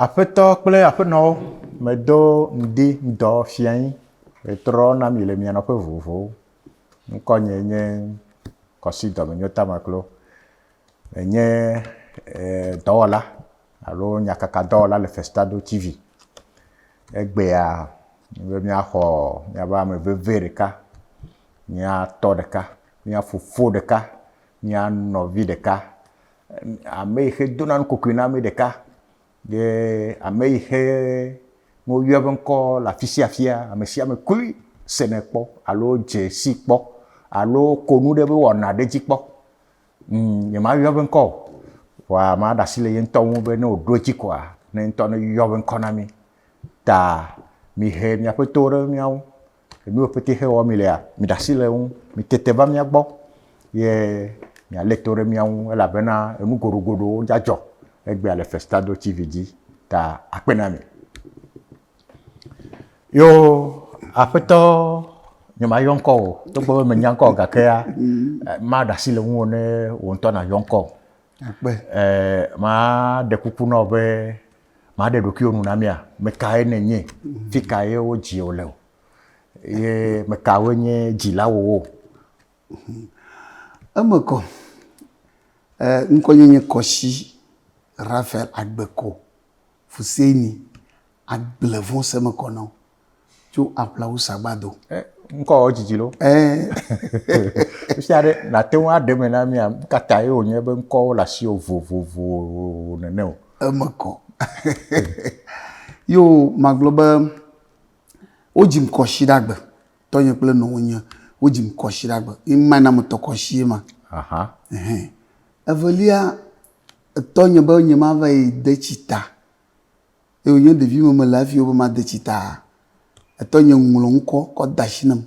Aƒetɔ kple aƒenɔwo, medo ŋdi ŋdɔ fia yín metrɔ na mi le mia nɔƒe vovovowo. Ŋkɔnyee nye Kɔsi Dɔmenyota Maklo. enye dɔwɔla alo nyakakadɔwɔla le Festado TV. Egbea be míaxɔ míaƒe ame veve ɖeka, mía tɔ ɖeka, mía fofo ɖeka, mía nɔvi ɖeka, ame yi xe dona nukokui na mí ɖeka ye ame yi xe ne woyɔ eƒe ŋkɔ le afi sia afia, ame sia ame koe sene kpɔ alo dze si kpɔ alo ko nu ɖe eƒe wɔna ɖe dzi kpɔ. Ŋ, nyemayɔ eƒe ŋkɔ o. Vɔa maɖe asi le ye ŋutɔ ŋu be ne wòɖo edzi koa, ne ye ŋutɔ neyɔ eƒe ŋkɔ na mí. Ta mihe miaƒe towo ɖe mía ŋu. Nu yiwo ƒete xe wɔm mílea, miɖe asi le eŋu. Mitete va mía gbɔ ye mialé to ɖe mía ŋu elabena enu goɖogoɖowo dza dzɔ egbea le Festado TV dzi. Ta akpe na mi. Yo aƒetɔ nye ma yɔ ŋkɔ o togbɔ be menya ŋkɔ gakea ma ɖe asi le ŋuwò ne wò ŋutɔ na yɔ ŋkɔ. Ma ɖe kuku na wò be ma ɖe ɖokuiwò nu na mía. Me kae ne nye? Fi ka ye wo dzi wò le? Ye me kawoe nye dzila wò wo? Eme kɔ, ŋkɔ nye nye Kɔshi Raphael Agbeko Fuseni agble vɔ̃ se me kɔ na wo tso aƒlawu sagbado. Eh, ŋkɔ wɔ dzidzi lo. Eh. Sia ɖe nate ŋu aɖe me na mia kata ye wònye be ŋkɔwo le asi vovovo nene o. Eme kɔ. Yo magblɔ be wodzim kɔ shi ɖagbe. Tɔnye kple nɔwonye wodzim kɔ shi ɖagbe. Ema na metɔ kɔ shi ye ma. Aha. Evelia Etɔ nye be nye ma va yi de tsi ta. Eye wò nye ɖevi me me le hafi wobe ma de tsi ta. Etɔ nye ŋlɔ ŋkɔ kɔ da shi nam.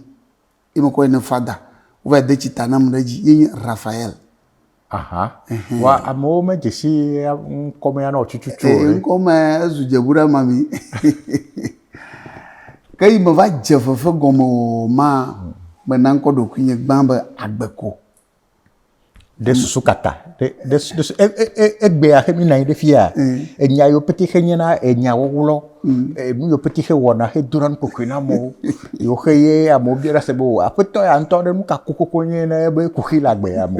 Ye me kɔ yi ne fada. Wo va yi de tsi ta nam ɖe edzi. Ye nye Raphael. Aha. Ehɛn. Wa amewo me dze si ŋkɔ me ya na wò tututu o ɖe? Eyi ŋkɔ me ezu dze ŋu ɖa ma mi. Ke yi me va dze fefe gɔme o ma, me na ŋkɔ ɖokuinye gbã be Agbeko. ɖe susu kaka ɖe ɖe ɖe e, e, e, egbea xe mi nɔ anyi ɖe fia enya yiwo pete xe nye na enya wɔwlɔ nu yiwo pete xe wɔna xe dona nu kɔkɔe na amewo yiwo xe ye amewo bia ɖe se be o aƒetɔ ya ŋutɔ ɖe nu ka kokoko nye na ebe kuxi le agbe ya me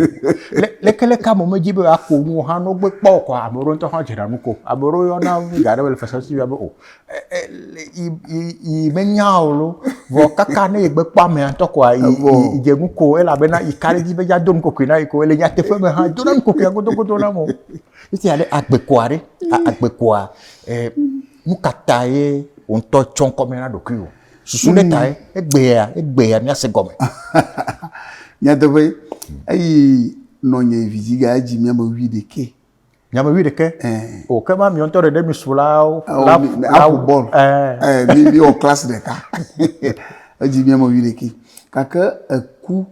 le leke leke ame medzi be ako nuwo hã no gbe kpɔ o kɔ ame ɖewo ŋutɔ hã dzena nu ko ame ɖewo yɔna nu ga ɖe be le fese si be o yi menya o lo vɔ kaka ne yegbe kpɔ amea ŋutɔ koa yi dze nu ko elabena yi ka ɖe dzi be yado nu kokoe na yi ko le nyateƒe me hã do na nu kokoe godogodo na mo esi aɖe agbe koa ɖe agbe koa e nu ka ta ye wò ŋutɔ tsɔ ŋkɔ me na ɖokuiwò susu ɖe tae egbea egbea míase gɔme. nyateƒe eyi nɔnye vidziga edzi mi ame wuiɖekɛ. Nyame wi ɖeke. Eh. O ke ma miɔntɔ ɖe ɖe mi su la o. La mi me aƒo bɔl. Eh. Eh mi mi o class ɖeka. Edzi mi ame wi ɖeke. Kake eku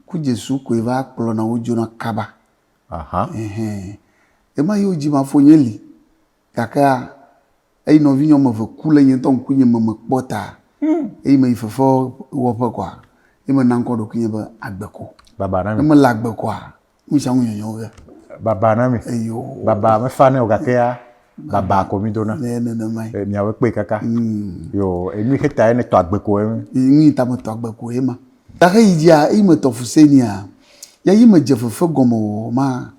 ku Jesu koe va kplɔ na wo dzona kaba. Aha. Ehɛn. Ema yi wo dzi ma fo nye li. Gake a eyi nɔvi nyɔ me ve ku le nye ŋtɔ ŋku nye me me kpɔ ta. Hmm. Eyi me yi fefe wɔƒe kɔa. Eyi me na ŋkɔ ɖokuinye be agbe ko. Baba na mi. Eme le agbe kɔa. Wosa ŋu nyɔnyɔ ge. Baba na mi. Eyo. Baba mefanɛ o gake ya baba ko mi dona. Ne nenema ye. Miawe kpe kaka. Mm. Yo enu xe ta ye ne tɔ agbe ko ye. Ŋui ta me tɔ agbe ko ye ma. Ta xe yi dia yi me tɔ fuse nia. Ya yi me dze fefe gɔme o ma.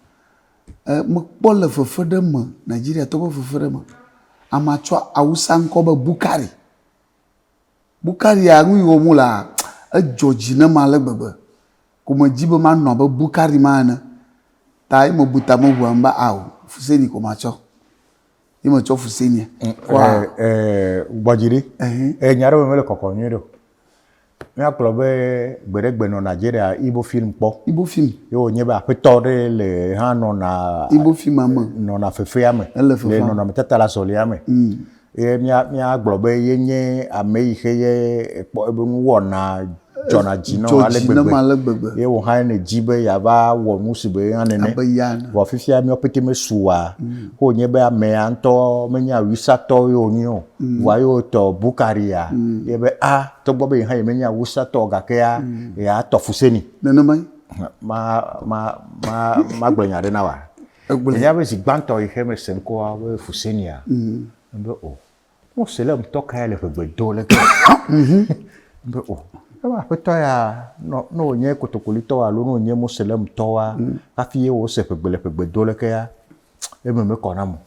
E me kpɔ le fefe ɖe me Nigeria tɔ be fefe ɖe me. Ama tsɔ awusa ŋkɔ be Bukari. Bu karia nu yi wɔm wo lea, edzɔ dzi nam ale gbegbe. Ko medzi be manɔ abe Bukari ma ene. Ta ye mebu ta me ŋu em be ao fuseni ko matsɔ. Ye metsɔ fusenia. Kɔa. Ee, gbɔ dzi ɖi. Ee, nya ɖewo mele kɔkɔ nyuie ɖeo. Mía kplɔ be gbe ɖe gbe nɔ Nigeria Igbo film kpɔ. Igbo film. Ye wo nye be aƒetɔ ɖe le hã nɔna. Igbo film ame. Nɔna fefea me. Ele fefea. Le nɔnɔme tata le azɔlia me. Ye mía, míagblɔ be yenye ame yi xe ye ekpɔ ebe nuwɔna dzɔna dzi na wò ale Dzɔ dzi nam gbegbe. ale gbegbe. Ye wò hã nèdi be yeava wɔ nu si be ye hã nene. Abe ya ene. Vɔ fifia míawo pɛtɛ mesu oa, ke wònye be amea ŋutɔ menye Awisatɔ ye wònye o. Vɔa ye wotɔ Bukaria ye be a, togbɔ be ye hã yemenye Awisatɔ o gakea, yeatɔ fuseni. Nenemae. Ma, ma, ma, magblɔ nya aɖe na wòa? Egblɔe. Ènya be zi gbãtɔ yi xe mese ŋkɔa be Fusenia? Ebe o. Mose le ŋutɔ kae le ʋegbe do le ke? Ebe o. Ebe aƒetɔ ya, nɔ, ne wònye kotokolitɔ alo ne wònye Mose le ŋutɔ wa, hafi ye wose ʋegbe le ʋegbe do le ke ya, eme mekɔ nam o.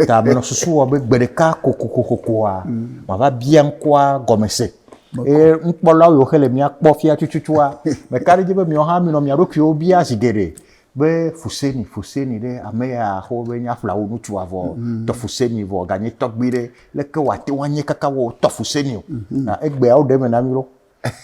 Ta menɔ susu wɔ be gbeɖeka kokokokokoa, mava bia ŋkɔa gɔme se. Eye nukpɔlawo yiwo xe le mía kpɔ fia tututua, meka ɖe edzi be miawo hã minɔ mia ɖokuiwo bia zi geɖe. be fuseni fuseni ɖe ame ya xɔ be nya ƒlawo ŋutsu avɔ tɔ fuseni vɔ ganye tɔgbi ɖe leke wa te wa nye kaka wɔ tɔ fuseni o na egbe awo ɖe me na mi lo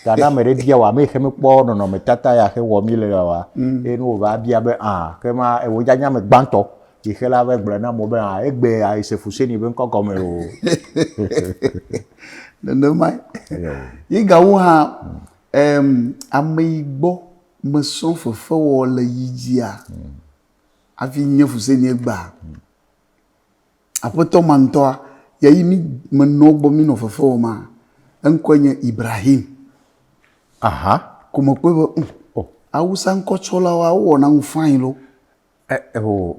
ta na me ɖe bia wa me xe me kpɔ nɔnɔ me tata ya xe wɔ mi le ya wa e no va bia be a ke ma e wo ja nya me gbantɔ yi xe la va gblɔ na mo be a egbe a yi se fuseni be ŋkɔ gɔme o nenema yi ga wo ha em ame yi gbɔ Mesrɔ̃ fefewɔwɔ le yi dzia hafi nye Fusenie gbea. Aƒetɔ ma ŋutɔa ya yi mí menɔ egbɔ mínɔ fefe wɔm ma, eŋkɔe nye Ibrahim. Aha! Ko mekpɔe be, ŋ, awusa ŋkɔtsɔlawoa wowɔna nu fain lo.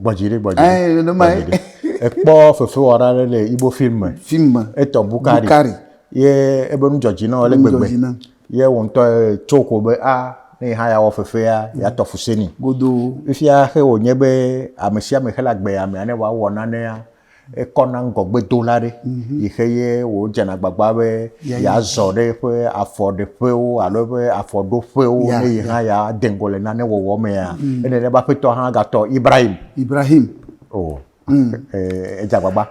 gbɔdzi ɖe gbɔdzi ɖe ekpɔ fefewɔla aɖe le ibo film me film me etɔ bukari bukari ye ebe nu dzɔdzi na ale gbegbe ye wo ŋutɔ tso ko be a ah, ne yi hã ya wɔ fefea ya tɔ fuseni godo fifia xe wònye be amesiame xe le agbe ya mea ne wòawɔ nanea Ekɔ na ŋgɔgbedola ɖe yi xe ye wòdze na agbagba be yeazɔ ɖe eƒe afɔɖeƒewo alo eƒe afɔɖoƒewo ne yi hã yeade ŋgɔ le nane wɔwɔ mea, enye be Aƒetɔ hã gatɔ Ibrahim. Ibrahim. O, edze agbagba.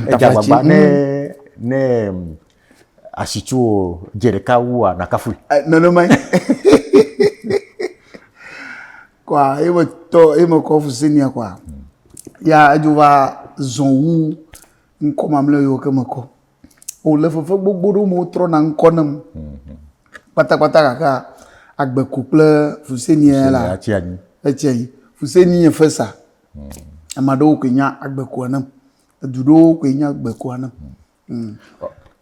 Edze agbagba ne ne asitsuwò dze ɖeka wua, nàkafui. Nenemae. kɔa ye me tɔ ye me kɔ fusinia kɔa ya edzo va zɔ wu ŋkɔ mamlɛ yiwo ke me kɔ o le fefe gbogbo ɖewo me wotrɔ na ŋkɔ nam kpatakpata gake agbe ko kple fusinia la etsia yi fusini nye fesa ame aɖewo koe nya agbe koa nam edu ɖewo koe nya agbe koa nam.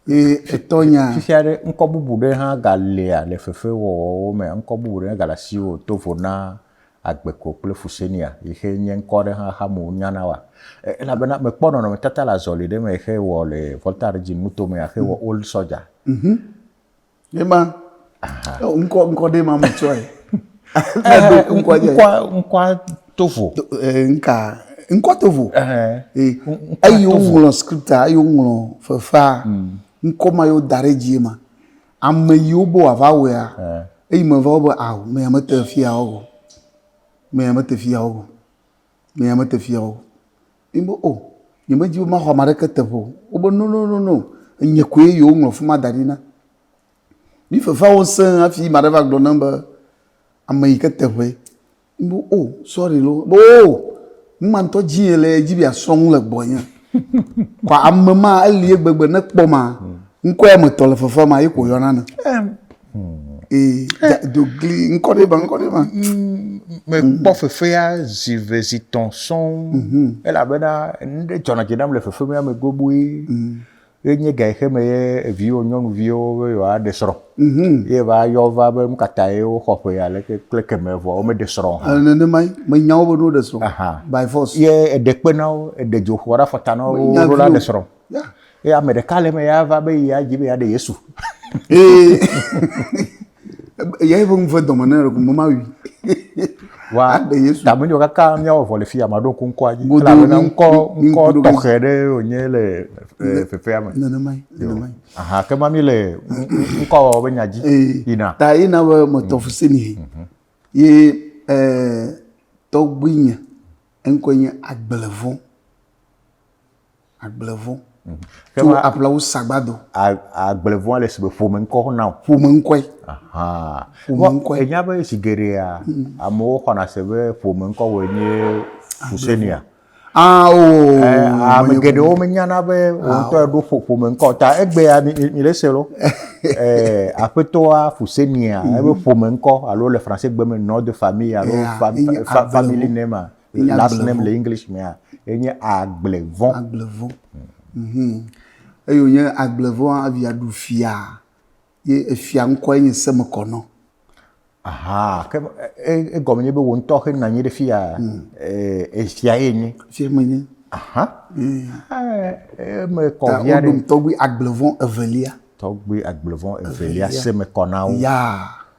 Eye etɔ nya. Fifia ɖe ŋkɔ bubu ɖe hã ga lia le fefe wɔwɔ wo me. Ŋkɔ bubu ɖe ga le asi wo to vo na Agbeko kple Fusenia. Yi xe nye ŋkɔ ɖe hã xame wo nya na wa. Elabena me kpɔ nɔnɔme tata le azɔli ɖe me xe wɔ le Volta Regime nuto me xe wɔ Old Soldier. Ne ma ŋkɔ ŋkɔ ɖe ma mu tsɔe. Ŋkɔa tovo. Nka ŋkɔ tovo. Eyi woŋlɔ skripta eyi woŋlɔ fefea ŋkɔ ma yewo da ɖe dzie ma ame yiwo be wòava wɔea eyi me va wo be ao me ya mete fiya wɔwɔ me ya mete fiya wɔwɔ me ya mete fiya wɔwɔ. Ŋ be o, nyemedi be maxɔ ame aɖeke teƒe o. Wobe nononono, nye koe yewoŋlɔ afi ma da ɖi na. Mí fefea wo sẽ hafi ame aɖe va gblɔ nam be ame yi ke te ŋee. Ŋ be o, sɔri loo. Wo be o, nu ma ŋutɔ dim ele ye dzi be yeasrɔ̃ nu le gbɔnye. Kɔ ame ma, elie gbegbe ne ekpɔma, ŋkɔe ame etɔ̃ le fefea mea, ye ko wòyɔna ame. Ee, eh. do gli ŋkɔ ɖe ma ŋkɔ ɖe ma. Mekpɔ fefea zi ve zi tɔ̃ sɔŋ mhm. elabena nu ɖe dzɔna dzi nam le fefe mea me gbogboe. Mhm. Ye nye ga xe me ye eviwo nyɔnuviwo be yewoaɖe srɔ̃. Mhm. Ye va yɔ va be nu ka ta ye woxɔ ƒe aleke kple kemɛ vɔ womeɖe srɔ̃ o hã. Nenemae menya wo be ɖo ɖe srɔ̃ by force. Ye eɖe kpe na wo, eɖe dzoxu aɖe afɔta na wo ɖo la ɖe srɔ̃. ye ame ɖeka le eme ya va be ya dzi be ya ɖe yesu ee ya ye ƒe ŋu ve dɔme ne ɖeko mema wi wa aɖe yesu tame nyɔ kaka miawɔ vɔ le fi ame aɖewo ko ŋkɔa dzi Godo, elabena mi- ŋkɔ mi- mi- ŋkɔ godo, mi- tɔxɛ ɖe wònye le eh, fefea me nenemae nenemae aha ke ma mi le ŋ- ŋ- ŋkɔwɔwɔ be nya dzi Ee, yina ta ye na be metɔ fuse ni he ye eh, tɔgbuinye eŋkɔe nye agblevɔ Agblevɔ. Mm. Ke To ma- aplawo sagbado. A- Agblevɔa le si be ƒome ŋkɔ xɔna o. Ƒome ŋkɔe. Ahan. Ƒome Vɔ, ŋkɔe. Ènya be zi geɖea amewo xɔna se be ƒome ŋkɔ wòe nye Fusenia. Ah o. Eh, Ame menye geɖewo ƒome. menyana be wò ŋutɔ eɖo ƒo- ƒome ŋkɔ o. Ta egbea mi- mi- miɖe se lɔ. Eh, Aƒetɔa Fusenia ebe ƒome ŋkɔ alo le Fransegbe me nom de famille alo Yeah, fam- enye fa- family Agblevɔ. name a. last name le english mea enye agblevɔ agblevɔ mhm eye wònye agblevɔ evia ɖu fia ye efia ŋkɔe nye semekɔnɔ aha ke egɔme nye be wò ŋutɔ xe nanyi ɖe fia hmm. efia ye nye fia me nye aha hmm. eme kɔ via ɖe tɔgbi agblevɔ evelia tɔgbi agblevɔ evelia semekɔnawo yaa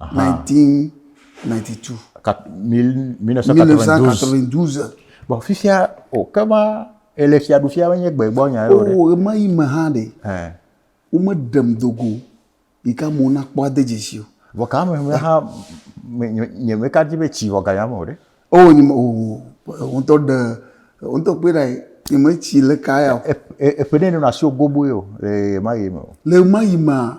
1992. 1992. Bon, fifia, o, oh, kema, ele fia du fia nye gbe gbɔ nya yore. Oh, ema yi me ha de. Eh. O me dem dogo. Ika mo na kpo ade jesi o. Bo ka me me ha nye me ka di be chi voga ya mo de. Oh, ni mo, oh, on to de, on to pe dai, ni me chi le ka ya. E, e, e pe de no na sio gobo yo, le ma yi me. Le ma yi ma.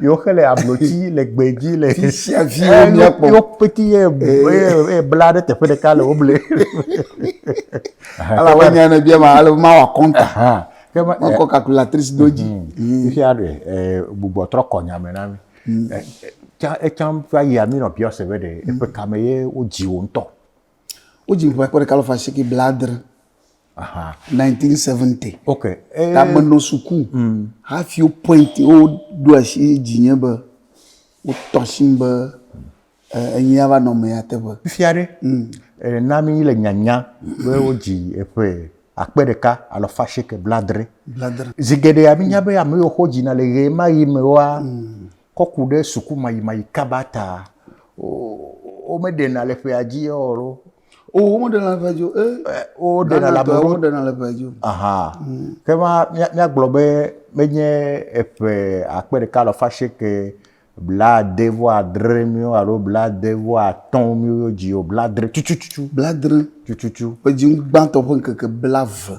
Yo xe le ablotsi le gbe dzi le. Fisia fi wo eh, mia kpɔ. Yo peti ye eh. ye bla ɖe teƒe ɖeka le wo ble. Ala wo nya ne bia ma ale ma wa kɔnta. Ke ma kɔ calculatrice do dzi. Fisia ɖe eh bubu trɔ kɔ nya me na mi. Hmm. Tsa etsam fa yia mi nɔ biɔ se be ɖe eƒe kame ye wo dzi wo ŋutɔ. Wo dzi ƒe kɔ ɖe kalofa siki bladre. Aha. 1970. Ok. Eh. Ta menɔ suku. Mm. Hafi wo point wo ɖo asi dzi nye be wo tɔ si be eh, enyi ava nɔ me ya teƒe. Fifia ɖe. Mm. Eh, na mi le nyanya be wo dzi eƒe akpe ɖeka alo fasheke bladre. Bladre. Zigede ya mi nya be ame yo xɔ dzi na le ɣe ma yi me wa. Mm. Kɔku ɖe suku ma yi ma yi kaba ta. O, o me ɖe na le ƒe adzi ɔro. o womeɖena le ʋedzo e woɖena le amewo woɖena le ʋedzo aha mm. ke ma míagblɔ be menye eƒe akpe ɖeka alɔfa asieke blaade vɔ adre miwo alo blaade vɔ atɔ miwo dzi o bladre tutututu bladre tututu ƒe dzi gbãtɔ ƒe ŋkeke blave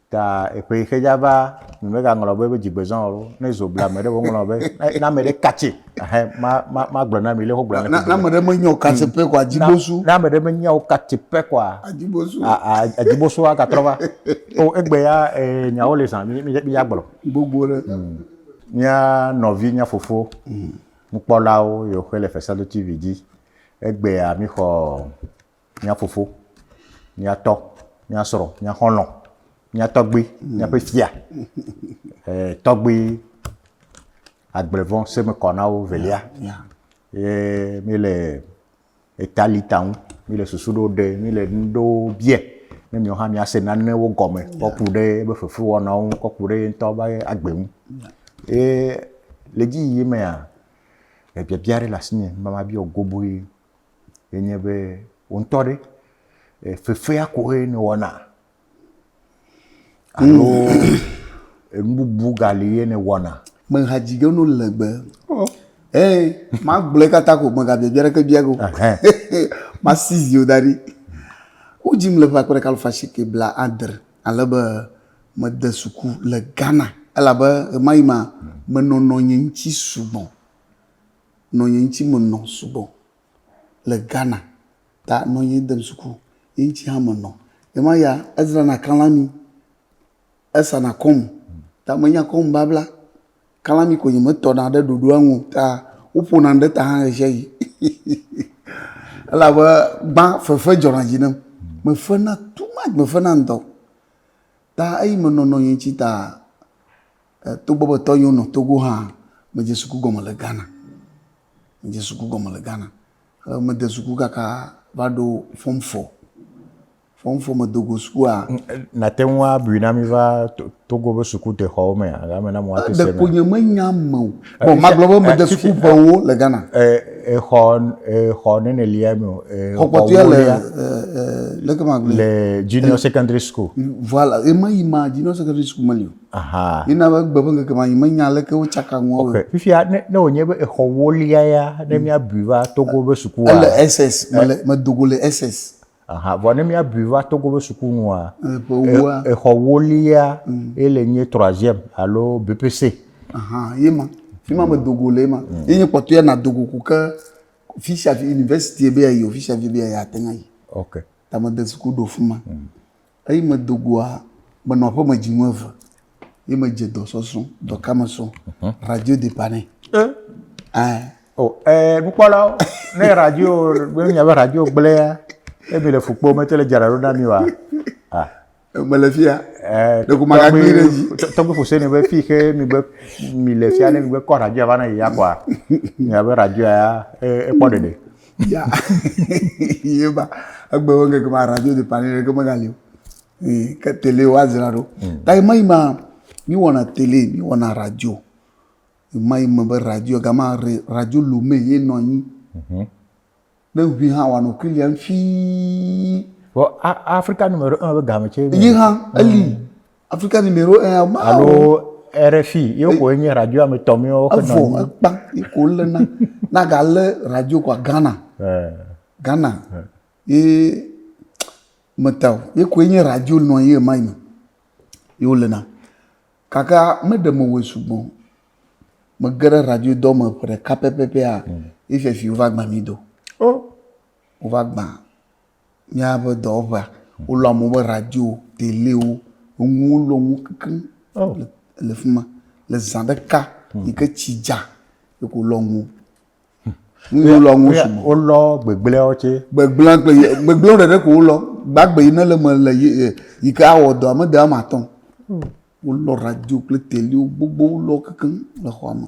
Ta eƒe yi xe dza va, mi me ga ŋlɔ be be dzigbe zɔn alo, ne zo bla me ɖe wo ŋlɔ be, ne ame ɖe katse, ahɛ, ma, ma, ma gblɔ na mi le ho gblɔ na mi. Na ame ɖe me nyɔ katse pe kɔa, dzibosu. Na ame ɖe me nyɔ katse pe kɔa. Adzibosu. A, a, a dzibosu a ga trɔ va. O, egbe ya, e, nya wo le zan, mi, mi, mi ya gblɔ. Gbogbo ɖe. Hmm. Mia nɔvi, mia fofo. Hmm. Nukpɔlawo, yo xe le fesado TV di. Egbe ya mi xɔ, mía fofo, mía tɔ, mía srɔ̃, mía xɔlɔ̃, mía tɔgbui, míaƒe fia, eh, tɔgbui agblevɔ semekɔnawo velia. Ye míele eta li ta ŋu, míele susu ɖewo ɖe, míele nu ɖewo biɛ, ne miwo hã miase nanewo gɔme kɔ ku ɖe ebe fefewɔnawo ŋu, kɔ ku ɖe ye ŋutɔ be agbe ŋu. Ye le edzi yiyim mea, ebiabia ɖe le asinye be mabiɔ goboe ye nye be, wò ŋutɔ ɖe, fefea koe nèwɔna alo enu bubu gali ye nèwɔna? Mehadzidze nu legbe. Eye magblɔe katã ko megabiabia ɖeke bia go. Masi zi wò da ɖi. Wodzim le ƒe akpe ɖeka alafa asieke bla adre ale be mede suku le Ghana elabe ɣemaɣi ma menɔnɔ nye ŋuti sugbɔ. nɔ ye ŋtsi me nɔ sugbɔ le Ghana ta nɔ ye dem suku ye ŋtsi hã me nɔ. Ye ma ya ezra na kalami, esa na kɔmu ta me nya kɔmu babla. Kalami ko nye me tɔ na ɖe ɖoɖoa ŋu ta wo ƒo nam ɖe ta hã ɣeshiaɣi elabe gbã fefe dzɔ na dzi nam. Me fe na too much me fe na ŋtɔ ta eyi me nɔ nɔ ye ŋtsi ta Togbɔ be tɔnyewo nɔ Togo hã, medze suku gɔme le Ghana. Medze suku gɔme le Ghana. Ke mede suku kaka va ɖo fɔm fɔ. Fɔm fɔ medo go sukua. Nàte ŋu abui na mí va Togo be sukudexɔwo mea? Ame na mo ate se. Ɖeko nye menya ame o. Bon, magblɔ be mede suku ƒewo le Ghana. Exɔ, exɔ nene lia mi o. Xɔ kpɔtɔea le, leke magblɔe? Le junior secondary school. Voilà, ema yi ma, junior secondary school meli o. Ahaa. Mina be gbe ƒe ŋkeke ma yi menya aleke wotsaka ŋua o. Ok, fifia ne ne wònye be exɔ wolia ya ne míabui va Togo be sukua. Ele SS, mele medo go le SS. Aha, vɔ ne míabui va Togo be suku nua. Eh, ƒe wua. e- Exɔ wolia ye le nye troisième alo BPC. Aha, ye ma. Fi ma medo go le ye ma. Ye nye kpɔtɔe nado go ko ke fi sia fi university be yeayi o, fi sia fi be yeayi ate ŋu ayi. Ok. Ta mede suku ɖo fi ma. Eyi medo goa, menɔ aƒeme dzi nu eve ye medze dɔ sɔsɔ, dɔ ka me sɔ? Mhm. Radio de pane. E? Eh. Oh, eh, nukpɔlawo, ne radio, ne nya be radio gblẽa, e mi le fukpo me te le dzra ɖo na mi wa. Ah. Me le fia. Eh, ɖe ko magagbe ɖe dzi. Tɔgbe fose ne be fi ke mi be mi le fia ne mi be kɔ radio va na ya kwa. Nya be radio ya e kpɔ ɖeɖe. Ya, ye ba, egbe wo ŋkeke ma radio de pani ɖeke megali o. Ee, ke tele woadzra ɖo. Mm. Ta ɣemaɣi ma, míwɔna tele, míwɔna radio. Ɣemaɣi me be radio, gama re, radio Lomé ye nɔ anyi. Mhm. Ne ŋui hã wòanɔ Quillian fii. Vɔ a, Afrika nu me ɖo eme be game tsɛ. Yi hã, eli. Mm. Afrika numéro 1 a ma alo RFI ye ko nye radio ame tɔ mi wo ke nɔ ni ekpa ye ko le na na ga le radio ko Ghana eh. Ghana eh. ye meta ye ko nye radio nɔ ye ma ni ye wo le na kaka me de mo we sugbɔ me gere radio dɔ me ƒe ɖeka pɛpɛpɛ a ye fɛfi wo va gba mi do o oh. wo va gba míaƒe dɔwɔƒea, wolɔ amewo be radiowo, telewo, enuwo lɔ nuwo kekeŋ le le fi ma. Le zã ɖeka yi ke tsi dza ye ko wolɔ nuwo. Nu yi wolɔ nuwo sugbɔ. Wolɔ gbegblẽawo tsɛ. Gbegblẽ kple ye gbegblẽwo ɖeɖe ko wolɔ. Gbagbe yi ne le eme le ye e yi ke awɔ dɔa mede ame atɔ̃ o. Wolɔ radio kple telewo gbogbo wolɔ kekeŋ le xɔa me.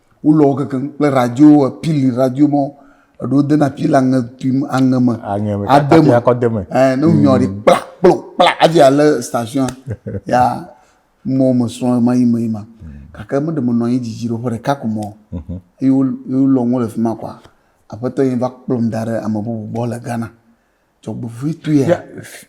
wolɔ wo kekeŋ kple radio pili radio mɔ eɖo dena pili aŋe tui aŋe me aŋe me ade me akɔ de me ɛɛ ne nyɔ ɖi kpla kplo kpla adzi ale station ya mɔ me srɔ̃ ma yi me yi ma gake me ɖe me nɔ anyi dzidzi ɖe ƒe ɖeka ko mɔ mhm. eye wolɔ ŋu le fi ma kɔa aƒetɔ yi va kplɔm da ɖe ame bubu gbɔ le Ghana. Dzɔgbevɔ̃etɔe. Ya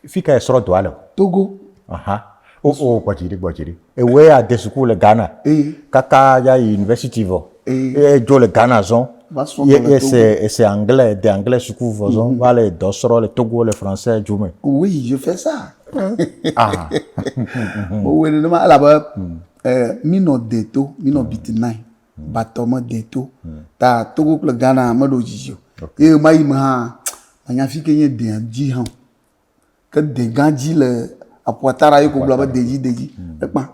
fi ka esrɔ dɔa le? Togo. Aha. O oh, o oh, gbɔdziri gbɔdziri. Ewe ade suku le Ghana. Ee. Kaka ya yi university vɔ. Ee. Ye dzo le Ghana zɔn. Va srɔ dɔ le Togo. Ye ese anglais de anglais suku vɔ zɔn. Mm-hmm. Va le dɔ srɔ le Togo le français dzo me. Oui, je fais ça. ah. Bo wele ne ma elabe. Mm. Eh, mi nɔ de to, mi nɔ mm. biti nai. Batɔ mede to. Hmm. Ta Togo kple Ghana meɖo dzidzi o. Okay. Ye ma yi me hã manya fi ke nye dea dzi hã. Ke de gã dzi le aƒuatara ye ko gblɔ be de dzi de dzi. Hmm. Ekpa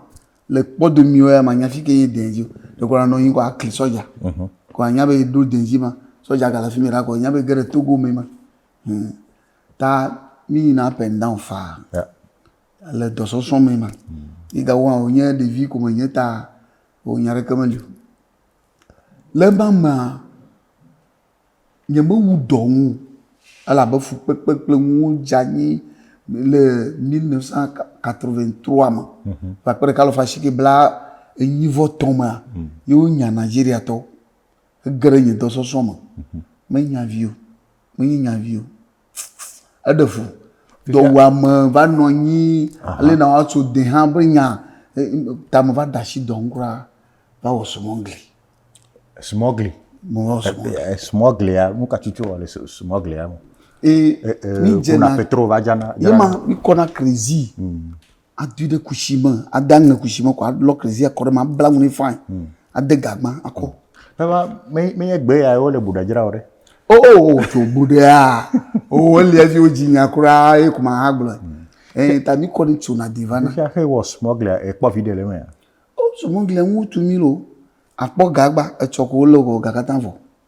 le kpɔdomiwo ya manya fi ke nye dea dzi o. De ko anɔ yin ko akli sɔja. Mhm. Ko anya be do de dzi ma sɔja gala fi mi ra ko anya be gere Togo me ma. Hmm. Ta mi yina up and down fa. Yeah. Le dɔsɔsɔ me ma. Hmm. Ida wo nye de vi ko me nye ta. vɔ nya ɖeke meli o. Le ema mea, nyemewu dɔ ŋu o elabe fukpekpe kple nuwo dze anyi le mille neuf cent quatre-vingt trois me. Ƒe akpe ɖeka alafa asieke bla enyi vɔ tɔ̃ mea, ye wonya Nigeriatɔwo. Ege ɖe nye dɔsɔsrɔ̃ me. Menya vi o, menye nya vi o. eɖe fu dɔwuame va nɔ anyi le na woatso de hã be nya tame va da asi dɔm kura va wɔ sumɔgli. Sumɔgli. Mo wɔ sumɔgli. Sumɔglia nu ka tutu wɔ le sumɔglia me. Ee mi dzena. Kuna petro va dzana. Yema mi kɔna krezi. Mm. adui ɖe kusi me ade aŋe kusi me ko alɔ klezi akɔ ɖe me abla nu nɛ fain hmm. ade gagba akɔ. baba menye gbe ya wole buɖa dzra o ɖe. o oh, o oh, oh, tso buɖa o elia dzi o dzi nya kura ye kuma ha gblɔ ee hmm. eh, ta mi kɔ ni tso na diva na. nufiaxe wɔ smɔglia ekpɔ vi ɖe le mea. o smɔglia ŋu tu mi lo akpɔ gagba etsɔ ko wole o gagata vɔ.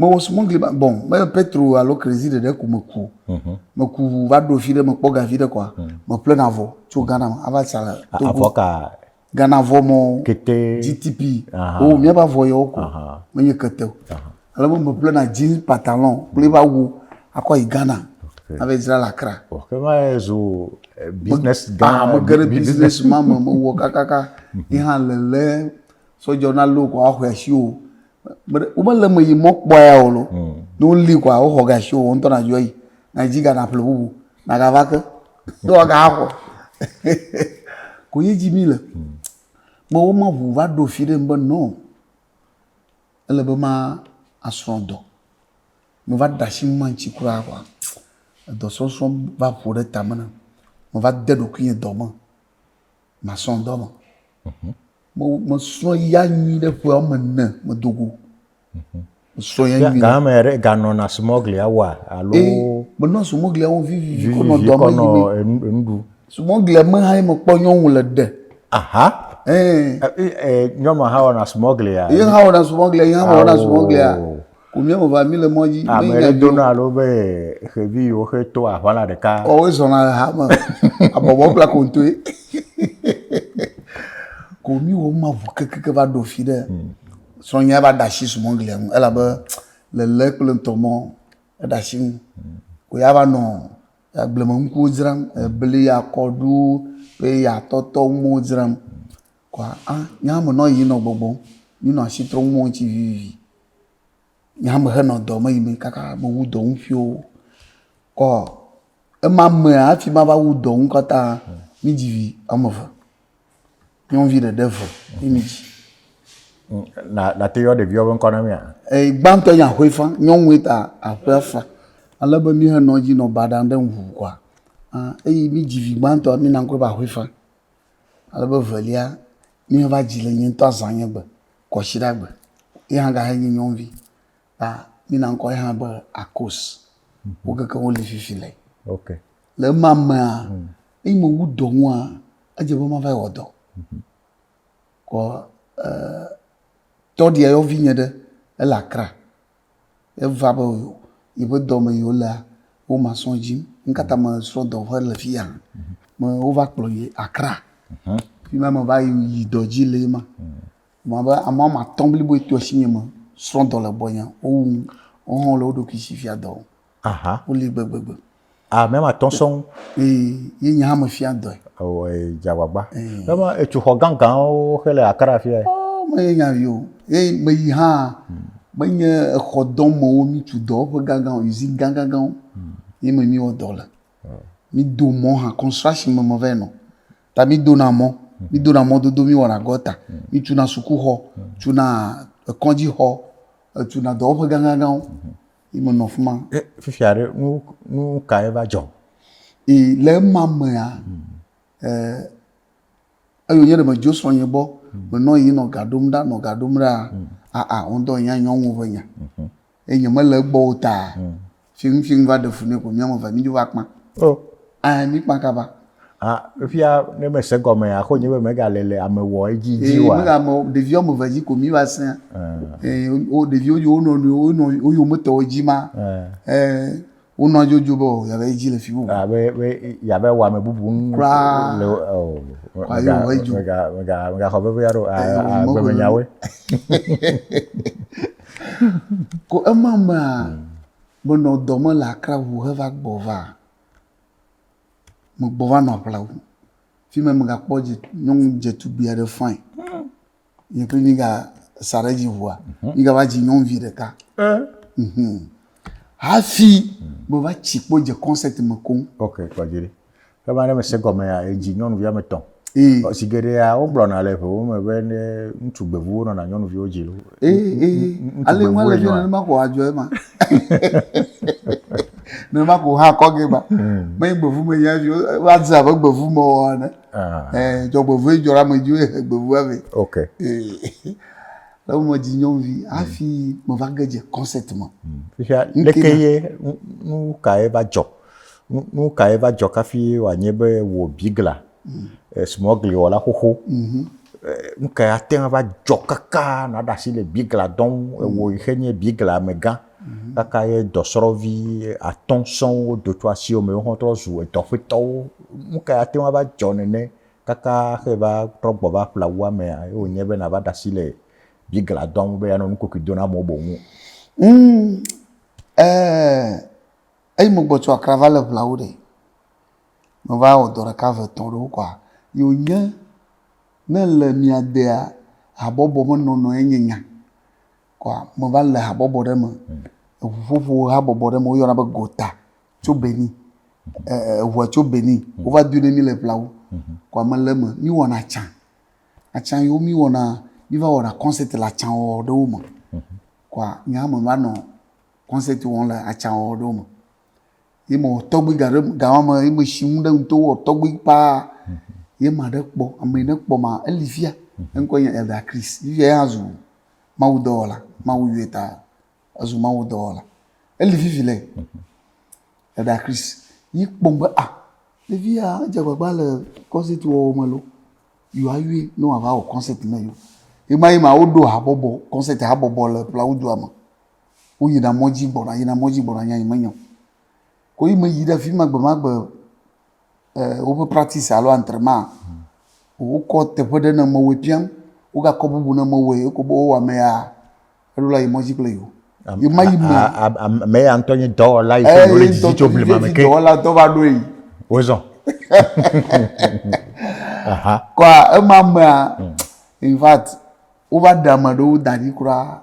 mewɔ smugli ma bon me petro alo krezi ɖeɖe ko meku o mhm. meku ʋu va ɖo fi ɖe mekpɔ gavi ɖe kɔa mhm. meple na vɔ tso mhm. ghana me ava sa le togo ghana vɔ mɔ gtp o oh, míaba vɔ yewo ko menye kete o ale me meple na jean pantalon kple va wu akɔ yi ghana ava dzra le akra megere eh, business ma me mewɔ kakaka yi hã lele sɔdzɔ na lo kɔ axɔ asi o womele me yi mɔ kpɔya o lo hmm. ne woli kɔa woxɔ gasi o ŋutɔ na yɔ yi na dzi gana ƒle bubu na gava ke ne wa ga xɔ ko yi dzi mi le hmm. me wo ma ʋu va ɖo fi ɖe be nɔ ele be ma asrɔ dɔ me va da si ma ŋuti kura kɔa edɔ sɔsɔ va ƒo ɖe tame na me va de ɖokui dɔ me. masrɔ̃ dɔ me. Mhm. Mesrɔ̃ ya nyui ɖe ƒe woame ene medo go. Mhm. Mesrɔ̃ ya nyui. Ga ame ɖe ganɔna sumɔglia wa alo. Ee menɔ sumɔglia wo vivivi kɔnɔ dɔ me yi mi. Enuɖu. Sumɔglia me hã ye mekpɔ nyɔnu le ɖe. Aha. Ee. Nyɔnua hã wɔna sumɔglia. Ye hã wɔna sumɔglia, ye hã wɔna sumɔglia. Ku mía me va, mí le mɔ dzi. Ame ɖe dona alo be xevi yiwo xe to aʋala ɖeka. Kɔwoe zɔna le ha me, abɔbɔ kple akontoe. Ko mí wɔ ma ʋu kekeke va ɖo fi ɖe. Hmm. Srɔ̃nyia va ɖa shi sumɔglia ŋu elabe lele kple ŋutɔ mɔ eɖa shi ŋu. Hmm. Ko ya va nɔ agbleme ŋkuwo dzram, ebli, akɔɖu, peya, tɔtɔ, ŋuwo dzram. Kɔa a Nya me nɔ yiyim nɔ gbɔgbɔm, mi nɔ ashi trɔm mɔ ŋci vivivi. Nya me xe nɔ dɔ me yimɛ kaka me wu dɔ ŋ fioo. Kɔ ema mea afi ma va wu dɔ ŋ kata a mi dzi vi ame ve. Nyɔnuvi ɖe ɖe ve yi mi dzi. Na na te yɔ ɖeviwo be ŋkɔ na mia? Eyi gbãtɔ nyi aƒe fa. Nyɔnue ta aƒea fa. Ale be mi xe nɔ dzi nɔ baɖa ɖe ŋ ŋu kɔa a eyi mi dzi vi gbãtɔ mi na ŋkɔɛ be aƒe fa. Ale be evelia, ne eva dzi le nye ŋutɔ azã nye gbe, kwasiɖa gbe. Ye hã gahe nye nyɔnuvi. Ta mina ŋkɔ ye hã be Akos. Wo keke woli fifi le. Okay. Le ema mea, mm. eyi me wu dɔ ŋua, edze be mava wɔ dɔ. Mhm. Kɔ eh, tɔɖia yɔvi nye ɖe ele Accra. Eva be yeƒe dɔ me yi wolea, wo ma srɔ̃ dzim. Nu ka ta me srɔ̃ dɔ ƒe le fiya? Me wova kplɔ yi Accra. Fi ma me va yi yi dɔ dzi le ma. Wɔ abe ame wɔme atɔ̃ blibo to asinye me srɔ̃ dɔ le gbɔnye. Wowu wo hã le wo ɖokui si fia dɔ wɔm. Aha. Woli gbegbegbe. Ah, mɛ ma tɔn sɔn. Ee, ye nya me fia dɔe. Ewɔ jagbagba. Mɛ ma etsu xɔ ganganwo xe le akara fia. Oh, me ye nya vi o. Ye me yi hã hmm. me nye exɔ dɔ mewo mi tsu dɔ ƒe gangan o, usine ganganganwo. Hmm. Ye me mi wɔ dɔ le. Oh. Mi do mɔ hã construction me me vɛ nɔ. Ta mi do na mɔ, hmm. mi do na mɔ dodo mi wɔ na gɔta. Mi tsu na suku xɔ, tsu na ekɔdzi xɔ, tsu na dɔ ƒe ganganganwo. yi menɔ afi ma. E, fifia ɖe nu nu ka eva dzɔ? E, le ema mea, mm. e, eyo nye ɖe me dzo srɔ̃ nye gbɔ, mm. menɔ yi nɔ ga ɖom ɖa, nɔ ga ɖom ɖa, mm. aa, ŋdɔ yi anyɔ ŋu ve nya. Mm -hmm. E nye mele egbɔ o ta, mm. fi ŋu fi ŋu va ɖe fu ne ko mía me va mi dzo va kpã. Oh. Aa, mi kpã kaba. Ah, fia ne me se gɔme ya, xo nye be me ga le le ame wɔ edzi dzi wa. Me ga me ɖevi ɔme ve dzi ko mi va se. Eh, o ɖevi o yo no no o no o yo me tɔ o dzi ma. Eh, o no jo jo bo ya ve dzi le fi bu. Ah, be be ya ve wa me bubu un. Kura. Le o. Kwa yo ve dzi. Me ga me ga me ga xɔ ve ve ya ro. Ah, be me nyawe. Ko ema ma, me no dɔ me la kra wu he va gbɔ va. megbɔ va nɔ aƒla ŋu fi ma megakpɔ dze nyɔnu dzetugbi aɖe fain yi kple mi ga sa ɖe edzi ŋua mi gava dzi nyɔnuvi ɖeka hafi meva tsi kpo dze kɔnsɛt me koŋ. ok kpɔdzi ɖi ke va ne mese gɔmea edzi nyɔnuvi ame etɔ̃. zi geɖea wogblɔna le ʋewo me be ne ŋutsu gbevuwo nɔna nyɔnuviwo dzi lo. ale ŋua le dze nenema ko adzɔ ema. nenema ko ha kɔ ge ba. Hmm. Me gbevu me nya vi va dze abe gbevu me wɔ ene. Ah. Eh, dzɔgbevu dzɔ la me dzi wo he gbevu ave. Ok. Le wo me dzi nyɔnuvi hmm. hafi me va ge dze concept me. Hmm. Fifia leke ye nu ka ye va dzɔ Nu kae va dzɔ kafi wòanye be wò bigla, eh, smɔgliwɔla xoxo, mhm. eh, nu kae ate ŋu va dzɔ kaka nàɖe asi le bigla dɔ ŋu, ewò yi xe nye bigla amegã, mhm. kaka ye dɔsrɔ̃vi atɔ̃ sɔŋ wodo tso asiwò me, woawo trɔ zu edɔƒetɔwo. Nu kae ate ŋu va dzɔ nene kaka xe va trɔ gbɔ va ƒle awu amea ye wònye be nàva ɖe asi le bigla dɔ ŋu be yeanɔ nukokui do na amewo boŋ? Mm, eh, Eyi mo gbɔ tso akra va le ŋla wo ɖe. Me va wɔ dɔ ɖeka ve tɔn ɖewo kɔa. Yo nye ne le mia dea habɔbɔ me nɔnɔ ye nye nya. Kɔa me va le habɔbɔ ɖe me. Eŋu ƒoƒo habɔbɔ ɖe me wo yɔna be gota tso Benin. Eŋua tso Benin wo va dui ne mi le ŋla wo. Kɔa me le me mi wɔna atsa. Atsa yi wo mi wɔna mi va wɔna kɔnsɛti le atsa wɔwɔ ɖewo me. Kɔa nye hã me va nɔ. kɔnsɛti wɔm le atsãwɔwɔ ɖewo me. Ye mewɔ tɔgbi ga ɖe ga ma me ye mesi nu ɖe ŋuto wɔ tɔgbi paa. Ye ame aɖe kpɔ, ame yi ne kpɔ ma, eli fia. Eŋkɔe nye Elder Chris. Fifia ya zu mawudɔwɔla, Mawu yɔe ta ezu mawudɔwɔla. Eli fifi le Elder Chris. Yi kpɔm be ah ɖevi ya edze agbagba le kɔnsɛti wɔwɔ me loo, yewoayɔe ne wòava wɔ kɔnsɛti ne yewo. Ɣemaɣi ma woɖo habɔbɔ, kɔnsɛti habɔbɔ le Ƒlawudua me. woyina mɔ dzi gbɔna, yina mɔ dzi gbɔna, nya yi menye o. Ko yi meyi ɖe afi ma gbemagbe e woƒe praktisi alo antrenema o. Wokɔ teƒe ɖe ne mewɔe piam, wogakɔ bubu ne mewɔe eko be wowɔ ame ya eɖo la yi mɔ dzi kple yewo. Ye ma yi me A- a- a- a- Ame ya ŋutɔ nye dɔwɔla yi ke eye wòle didi tso dɔtɔvi blema me vevi ke. dɔwɔla dɔ va ɖoe yi. Wozɔ. Aha. Kɔa ema mea in fact wova ɖe ame aɖewo da ɖi kura.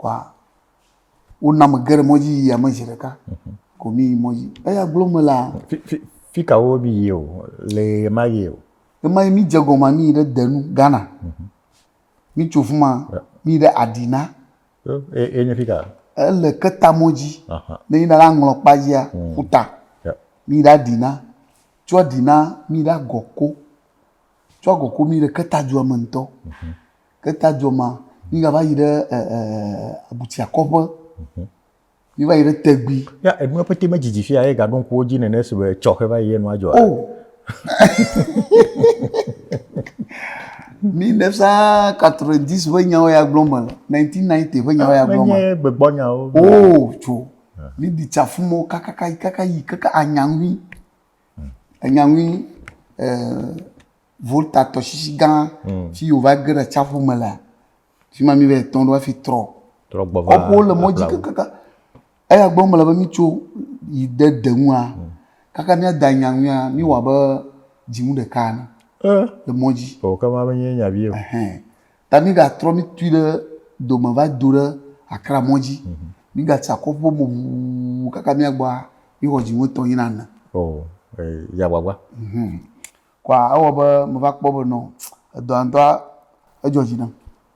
kɔa wona ame geɖe mɔdzi yi yame zi ɖeka ko mi yi mɔdzi eya gblɔ me la fi ka wo mi yi o le ɣema yi o ɣema yi mi dze gɔma mi yi ɖe denu ghana mhm. mi tso fuma mi yi ɖe adina enye fi ka ele keta mɔdzi ne yina la ŋlɔ kpa dzia mhm. futa mi yi ɖe adina tso adina mi yi ɖe agɔko tso agɔko mi yi ɖe keta dua me ŋutɔ mhm. Ke ta dzɔ ma, mi ga va yi ɖe e, e, abutia kɔƒe. Mhm. Mi va yi ɖe tegui. Ya enua pete me dzidzi fia ye ga ɖo ŋkuwo dzi nene si be tsɔxe va yi ye nua dzɔ. Oh. mi ne sa 90 ƒe nyawo ya gblɔ me, 1990 ƒe nyawo ya gblɔ me. Menye gbegbɔ nyawo. Oh, tso. Ah. Mi di tsafumo kakaka kakaka yi kaka anyaŋui. Hmm. Anyaŋui eh Volta tɔsisi gã mm. si wòva ge ɖe atsiaƒu me lea, fi ma mi va etɔ̃ ɖo hafi trɔ. Trɔ gbɔ va. Kɔƒewo le mɔ dzi kakaka. Eya gbɔ mele be mitso yi de de ŋua mm. kaka miada nya ŋuia miwɔ abe dzinu ɖeka ene eh. le mɔ dzi. O kama menye nya vi o. Ta migatrɔ mitui ɖe dome va do ɖe akra mɔ dzi. Mhm. Migatsi akɔ ƒo mo ʋuu kaka miagbɔa mixɔ dzinu etɔ̃ yina ene. O. Yagbagba. kɔa ewɔ be meva kpɔ be nɔ edɔa ŋutɔa edzɔ dzi nam.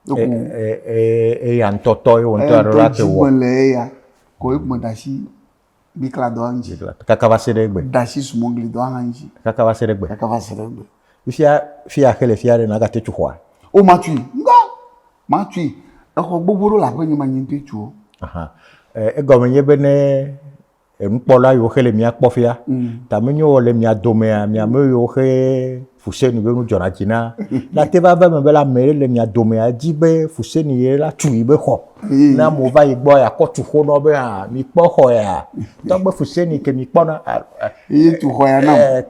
Eya ŋutɔ tɔ ye wòŋutɔ aɖe la te wɔ. Ele eya kɔ ye me da asi bikla dɔa ŋuti. Kaka va se ɖe egbe. Da asi sumɔgli dɔa hã ŋuti. Kaka va se ɖe egbe. Kaka va se ɖe egbe. Fifia fia xe le fia ɖe nàgate tu xɔa? O matui ŋgɔ matui. Exɔ gbogbo ɖewo le aƒenye me nye ŋutɔe tu wo. Egɔme nye be ne enukpɔla yiwo xe le mía kpɔ fia. Mm. Ta menye wɔ le mia domea, mia ame yiwo xe fusenu be nu dzɔna dzi na. Na te va va me be la ame le mia domea di be fusenu ye la tu yi be xɔ. Mm. Na mo va yi gbɔ ya kɔ tu xɔ nɔ be ha mi kpɔ xɔ ya. Tɔgbe fusenu ke mi kpɔ na. Yi tu xɔ ya na.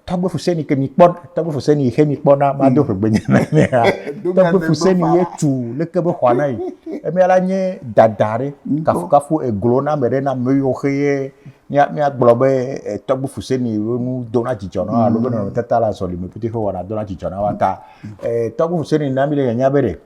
Tɔgbe fusenu ke mi kpɔ. Tɔgbe fuseni yi xe mi kpɔ na ma do ƒe gbe nyana ne ha. Tɔgbe fuseni ye tu le ke be xɔa na yi. Emi ala nye dada re mm. kafu kafu eglo na me re na me yo xe ye mia mia gblɔ be eh, tɔgbe fuseni yo nu do na jijɔ na alo be nɔnɔ tata la zɔli me pete xe wɔna do na jijɔ na wa ta. Eh, tɔgbe fuseni na mi le nya be re.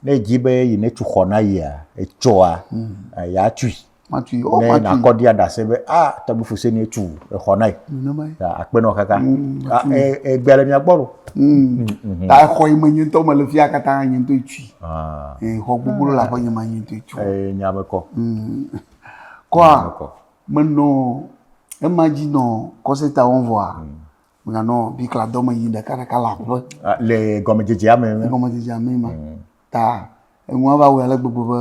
Ne ji be yi ne tu xɔ na yi a, etsoa, mm. eh, ya tui. matui o ne matui nakɔ dia dase be a tɔgbi fuse ne tu exɔ na yi nenema ye ta akpe nɔ kaka Mm, a matui. e e gbea le mia gbɔ lo Mm. Mhm. ta exɔ yi me nye ŋutɔ mele fia katã nye ŋutɔ tui ah Eh, xɔ gbogbo le aƒe nye ma nye ŋutɔ tui e nya me kɔ Mm. nya kɔa me kɔ menɔ ema dzi nɔ kɔseta wɔm vɔa meganɔ bikla dɔ me yi ɖekaɖeka le aƒe Ah, le gɔmedzedzea me me gɔmedzedzea me ma ta enua va wɔe ale gbegbe be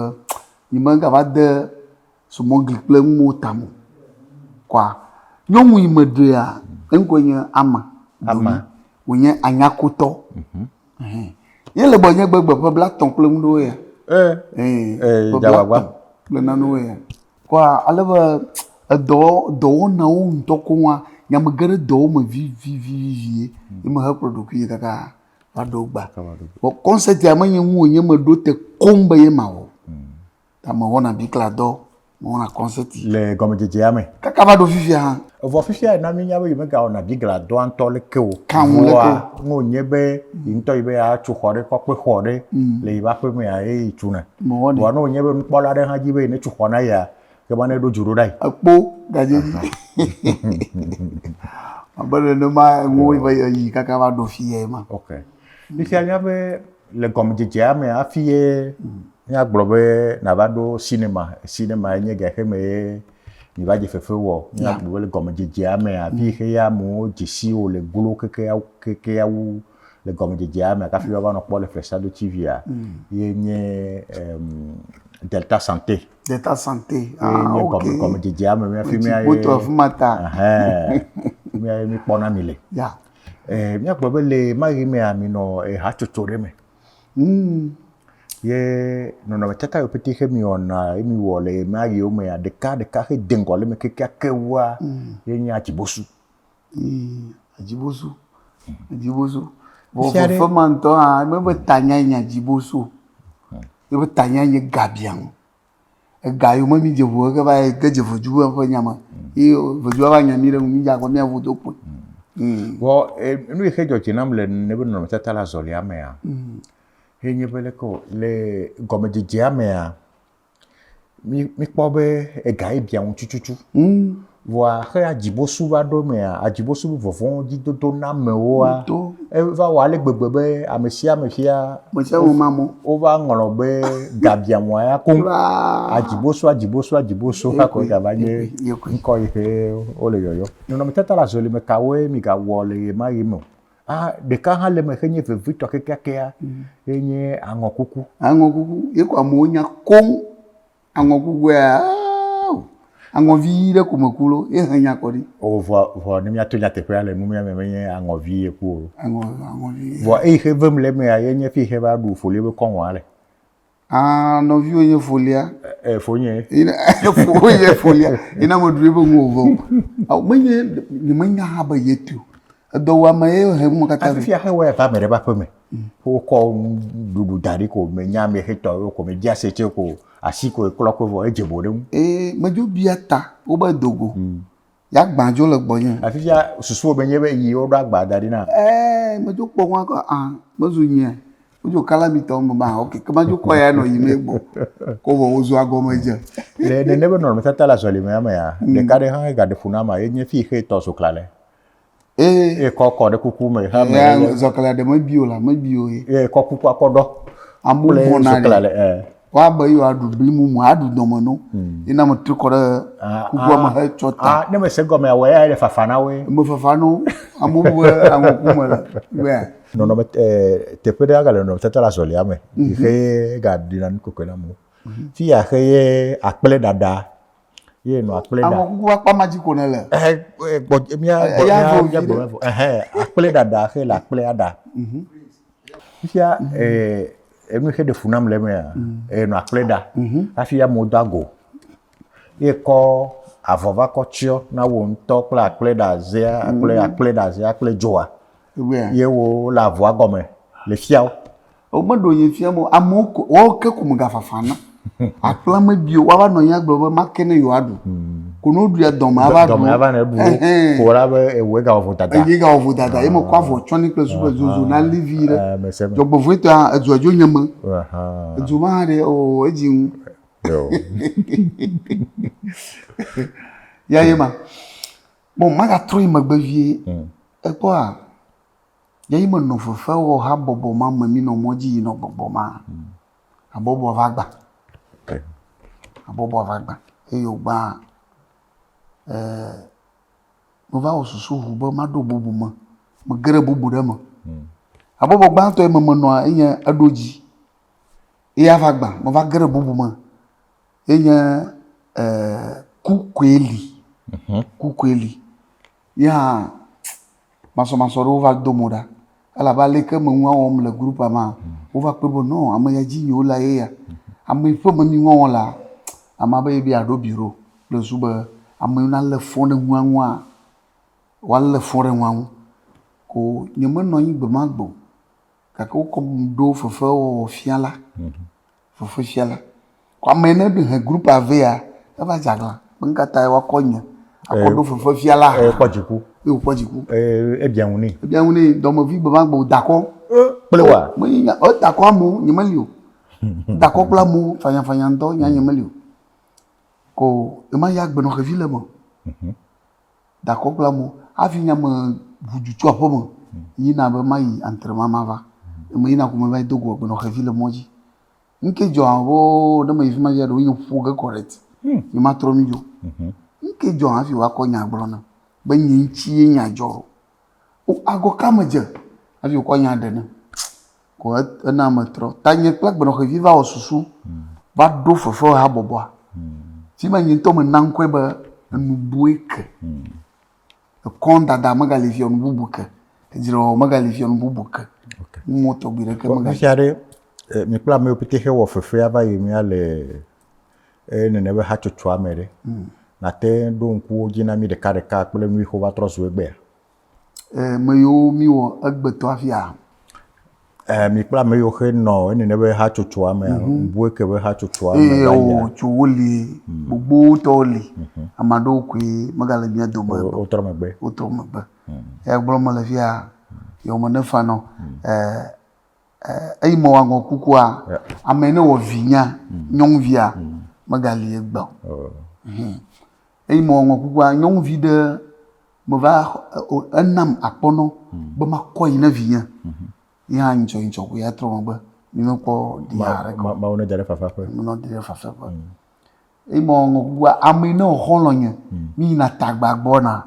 nye megava de sumɔgli kple nuwo tame o. Kɔa nyɔnu yi meɖea eŋkɔe nye Ama. Ama. Wònye anyakotɔ. Mhm. Ɛhɛn. Ye le gbɔnye gbegbe ƒe blatɔ̃ kple nu ɖewoe ya. Ee. Ee. Ee. Ƒe blatɔ̃ kple nanewoe ya. Kɔa ale be edɔ dɔwɔnawo ŋutɔ koŋa, nya megeɖe dɔwo me vivivivi ye mehekplɔ ɖokuinye kaka Maɖo gba. Vɔ kɔnsɛtia menye ŋu wònye meɖo te koŋ be ye ma wɔ. Hmm. Ta mewɔna bikla dɔ, mewɔna kɔnsɛti. Le gɔmedzedzea me. Kaka va ɖo fifia hã. Evɔ fifia na mínya be yemegawɔna bigla dɔa ŋutɔ leke o. Kan ŋu leke o. Ne wònye be yi ŋutɔ yi be yeatso xɔ ɖe, kɔkpe xɔ ɖe hmm. le yi ƒe aƒemea eye yi tsuna. Mewɔnɛ. Vɔ ne wònye be nukpɔla aɖe hã dzi be yi netso xɔ na yia, ke be ne ɖo dzi ɖo ɖa yi. Ekpo gaje dzi. Abe nenema enuwo va yi kaka va ɖo fi ye ma. Ok. Mi sia nya be le gɔmedzedzea me hafi ye míagblɔ be nava ɖo sinema. Sinema enye gɛ xe me ye mi va dze fefe wɔ. Míagblɔ be le gɔmedzedzea me hafi xe ye amewo dze si wo le glo kekea kekea wu le gɔmedzedzea me kafi woava nɔ kpɔ le Fresh Ado TV-a ye nye Delta Santé. Deta Sante. Ah, Nye okay. kɔme kɔme dzedzea me mía fi mía ye. Wotu afi ma ta. Mía ye mi kpɔna mi le. Ya. Eh, mía gbɔ be le maɣi mea mi nɔ hatsotso ɖe me. Mm. Ye nɔnɔmetata yo pete xe mi wɔna ye mi wɔ le maɣiwo mea ɖeka ɖeka xe de ŋgɔ le me kekeake wua mm. ye nye atsibosu. Ii, Ajibosu. Ajibosu. Vɔ Fifia ɖe- vevema ŋutɔ hã, eme be tanyae nye Ajibosu o. Eƒe tanyae nye Gabiãŋ. Ega yome mídze ŋu heke va yi ge dze Vedu be ƒe nya me. Ye Vedua va nya mí ɖe ŋu mí dza kpɔ mía ŋu do kpoe. Ii. Vɔ e, nu yi xe dzɔ dzi nam le nene be nɔnɔmetata le azɔlia mea, ye nye be leke wɔ, le gɔmedzedzea mea, Mi mikpɔ be ega ye bia ŋu tututu. Mm. Vɔa xe adzibosu va ɖo mea, adzibosu be vɔvɔ̃ dzidodo na amewoa, eva wɔ ale gbegbe be ame sia ame fia. Ame sia ame ma mo. Wova ŋlɔ be ga bia ŋua ya koŋ. Adzibosu adzibosu adzibosu hakɔ gava nye ŋkɔ yi ke wole yɔyɔ. Nɔnɔmetata le azɔlime kawoe migawɔ le ɣemaɣi me o. Ah, ɖeka hã le eme xe nye vevitɔ kekeakea, ye nye aŋɔkuku. Aŋɔkuku, ye ko amewo nya koŋ. Aŋɔkukua, ah, aŋɔvi ʋi ɖe ko meku lo, ye he nya kɔ ɖi. O, vɔ, vɔ ne míato nyateƒea le numea me menye aŋɔvi ye ku o. Aŋɔ, aŋɔvi. Vɔ eyi xe vem le emea, ye nye fi xe va ɖu foli be kɔŋɔa le. Ah, nɔviwo nye folia. Eh, fonye. Fonye folia. Ina mo dwe bo mo bo. Au menye ni menye ha ba yetu. Edo wa me ye he mo kata. Afi ya he wa ta me ba pe me. Ko ko dudu dari ko me nya me he to ko me dia se che ko asi ko klo ko vo eje bo dem. Eh, me jo bia ta wo ba dogo. Ya gbã dzo le gbɔnye. Afisia susuwò be nye be yi woɖo agba da ɖi na? Eee, medzo kpɔ ŋua kɔ a, mezu nyea? Wodzo kalamitɔ ŋgbe ma a, ok, ke madzo kpɔ ya nɔ yimɛ gbɔ. Ko vɔ wozu agɔmedze. Le nene be nɔnɔmetata le azɔlimea mea, ɖeka ɖe hã he gaɖe ƒo na ma ye nye fii xe tɔ so klalɛ. Ee. Ye kɔ kɔ ɖe kuku me. Ha me. Yaa zɔkala ɖe mebi o la mebi o ye. Ye kɔ kuku akɔ ɖɔ. Amewo bɔna ɖe. Wa be yewoa ɖu bli mumu aɖu dɔme no. Hmm. Ye na me tri kɔ ɖe kukua me he tsɔ ta. Ah, ne me se gɔme awɔ ya ye fafa na wo. Me fafa no. Amewo be amewo ku me le. Bɛa. Nɔnɔme eh, teƒe ɖe aga le nɔnɔme tata le azɔlia me. Mhm. Xe ga ɖina nu kɔkɔe na amewo. Mhm. Fi ya xe ye akple ɖaɖa ye nɔ akple ɖa. Àwọn kuku akpa ma dzi ko ne le. Ɛhɛ gbɔ mía gbɔ mía mía gbɔ mɛ fɔ ɛhɛ akple ɖaɖa xe le akple aɖa. Mhm. Fifia ɛɛ enu xe ɖe fu nam le mea ɛɛ nɔ akple ɖa mhm. hafi amewo do ago ye kɔ avɔ va kɔ tsiɔ na wo ŋutɔ kple akple ɖa zea akple mhm. akple ɖa zea akple dzoa ye wo le avɔa gɔme le fiawo. Womeɖo ye fia mo amewo ko woawo ke ko megafafa na. Aƒla mebi o woava nɔ anyi agblɔ be ma ke ne yewoaɖu. Hmm. Ko ne woɖuia dɔme ava ɖu. Dɔme ava ne bu. Ko wòla be ewu ega wɔvo dada. Eyi ega wɔvo dada ye mekɔ avɔ tsɔ ne kple supe zozo na li vi ɖe. Dzɔgbevɔe tɔa edzo edzo nye me. Edzo ma hã ɖe o edzi ŋu. Ya ye ma. Bon magatrɔ yi megbe vie. Hmm. Ekpɔa. Ye yi menɔ fefe wɔ habɔbɔ ma me mi nɔ mɔ dzi yi nɔ gbɔgbɔ ma. Habɔbɔ va gba. Habɔbɔ va gba. Ye yo gba e me va wɔ susu ŋu be ma ɖo bubu me. Me geɖe bubu ɖe me. Habɔbɔ gba tɔ yi me menɔ enye eɖo dzi. Ye ya va gba. Me va geɖe bubu me. Ye nye e ku koe li. Ku koe li. Ye hã masɔmasɔ ɖewo va do mo ɖa elabe ale ke menu awɔ wɔm le grupua mea, wova kpɔe be nɔ ame ya dzi yio la ye ya. Ame yi ƒe menu wɔwɔ la, amea be yebe yeaɖo biro kple zu be ame yi nalé fɔ ɖe nua ŋua, woalé fɔ ɖe nua ŋu. Ko nyemenɔ anyi gbe ma gbe o gake wokɔm ɖo fefewɔwɔ fia la. fefefia la ko ame yi ne ɖe he grupua vɛ ya eva dze aglã be nu ka tae woakɔ nye akɔ ɖo fefefia la hã. Ekpɔ dziku. Ye wòkpɔ dziku. Ee, ebia ŋu nɛ. Ebia ŋu nɛ dɔmevi gbemagbe wòda akɔ. Kple wa. Menye nya o, eda akɔ amewo nye meli o. Eda akɔ kple amewo fanyafanya ŋutɔ nya nye meli o. Ko ema ya agbenɔ xevi le eme o. dakɔ kple amewo hafi nye ame ŋu du tso aƒeme yina be mayi antre ma mava. Eme yina ko meva yi do go agbenɔ xevi le mɔ dzi. Nu ke dzɔ amewo ne meyi fi ma dzi ɖewo nye ƒo ge kɔ ɖe eti. Nye matrɔ nu dzo. Nu ke dzɔ hafi woakɔ nya gblɔ nam be nye ŋuti ye nya dzɔ ɖo. Wo agɔ ka medze hafi wokɔ nya ɖe nam. ko ena metrɔ. Tanye kple agbenɔxevi va wɔ susu va ɖo fefehabɔbɔa, si me nye ŋutɔ mena ŋkɔe be Enubue ke. Ekɔdada megali fiɔ nu bubu ke, edzrewɔwɔ megali fiɔ nu bubu ke, nuwo tɔgbi ɖeke megali. Nusia ɖe, mi kple amewo pete xe wɔ fefea va yi mía le nene be hatsotsoa me ɖe, nate ŋu ɖo ŋku wo dzi na mí ɖekaɖeka kple nuyixo va trɔ zu egbea? eh, me yiwo mi wɔ egbetɔ afia. Eh, mi kpla me yiwo xe nɔ ene ne be hatsotsoa me, mm -hmm. bue ke be hatsotsoa me. Eye wo tso wo li, mhm. gbogbo tɔwo li, mm -hmm. amaɖewo koe megale mia dome. Wotrɔ megbe. Wotrɔ megbe. Mm -hmm. Eya gblɔ me le fia, yewo me ne fa nɔ, mhm. eh, eh, eyi me wangɔ kukua, yeah. ame ne wɔ vinya, mhm. nyɔnvia, mm -hmm. megali egbe. Oh. Mm -hmm. Eyi me wangɔ kukua, nyɔnvi ɖe, meva enam akpɔnɔ be makɔ yi ne vinye yi hã ŋdzɔ ŋdzɔ ko ya trɔ megbe mi mekpɔ di ya ɖe ko mawo ne da ɖe fafa ƒe mɔ di ɖe fafa ƒe yi mɔ ŋɔ gua ame ne xɔ lɔ nye mi yi na tagba gbɔ na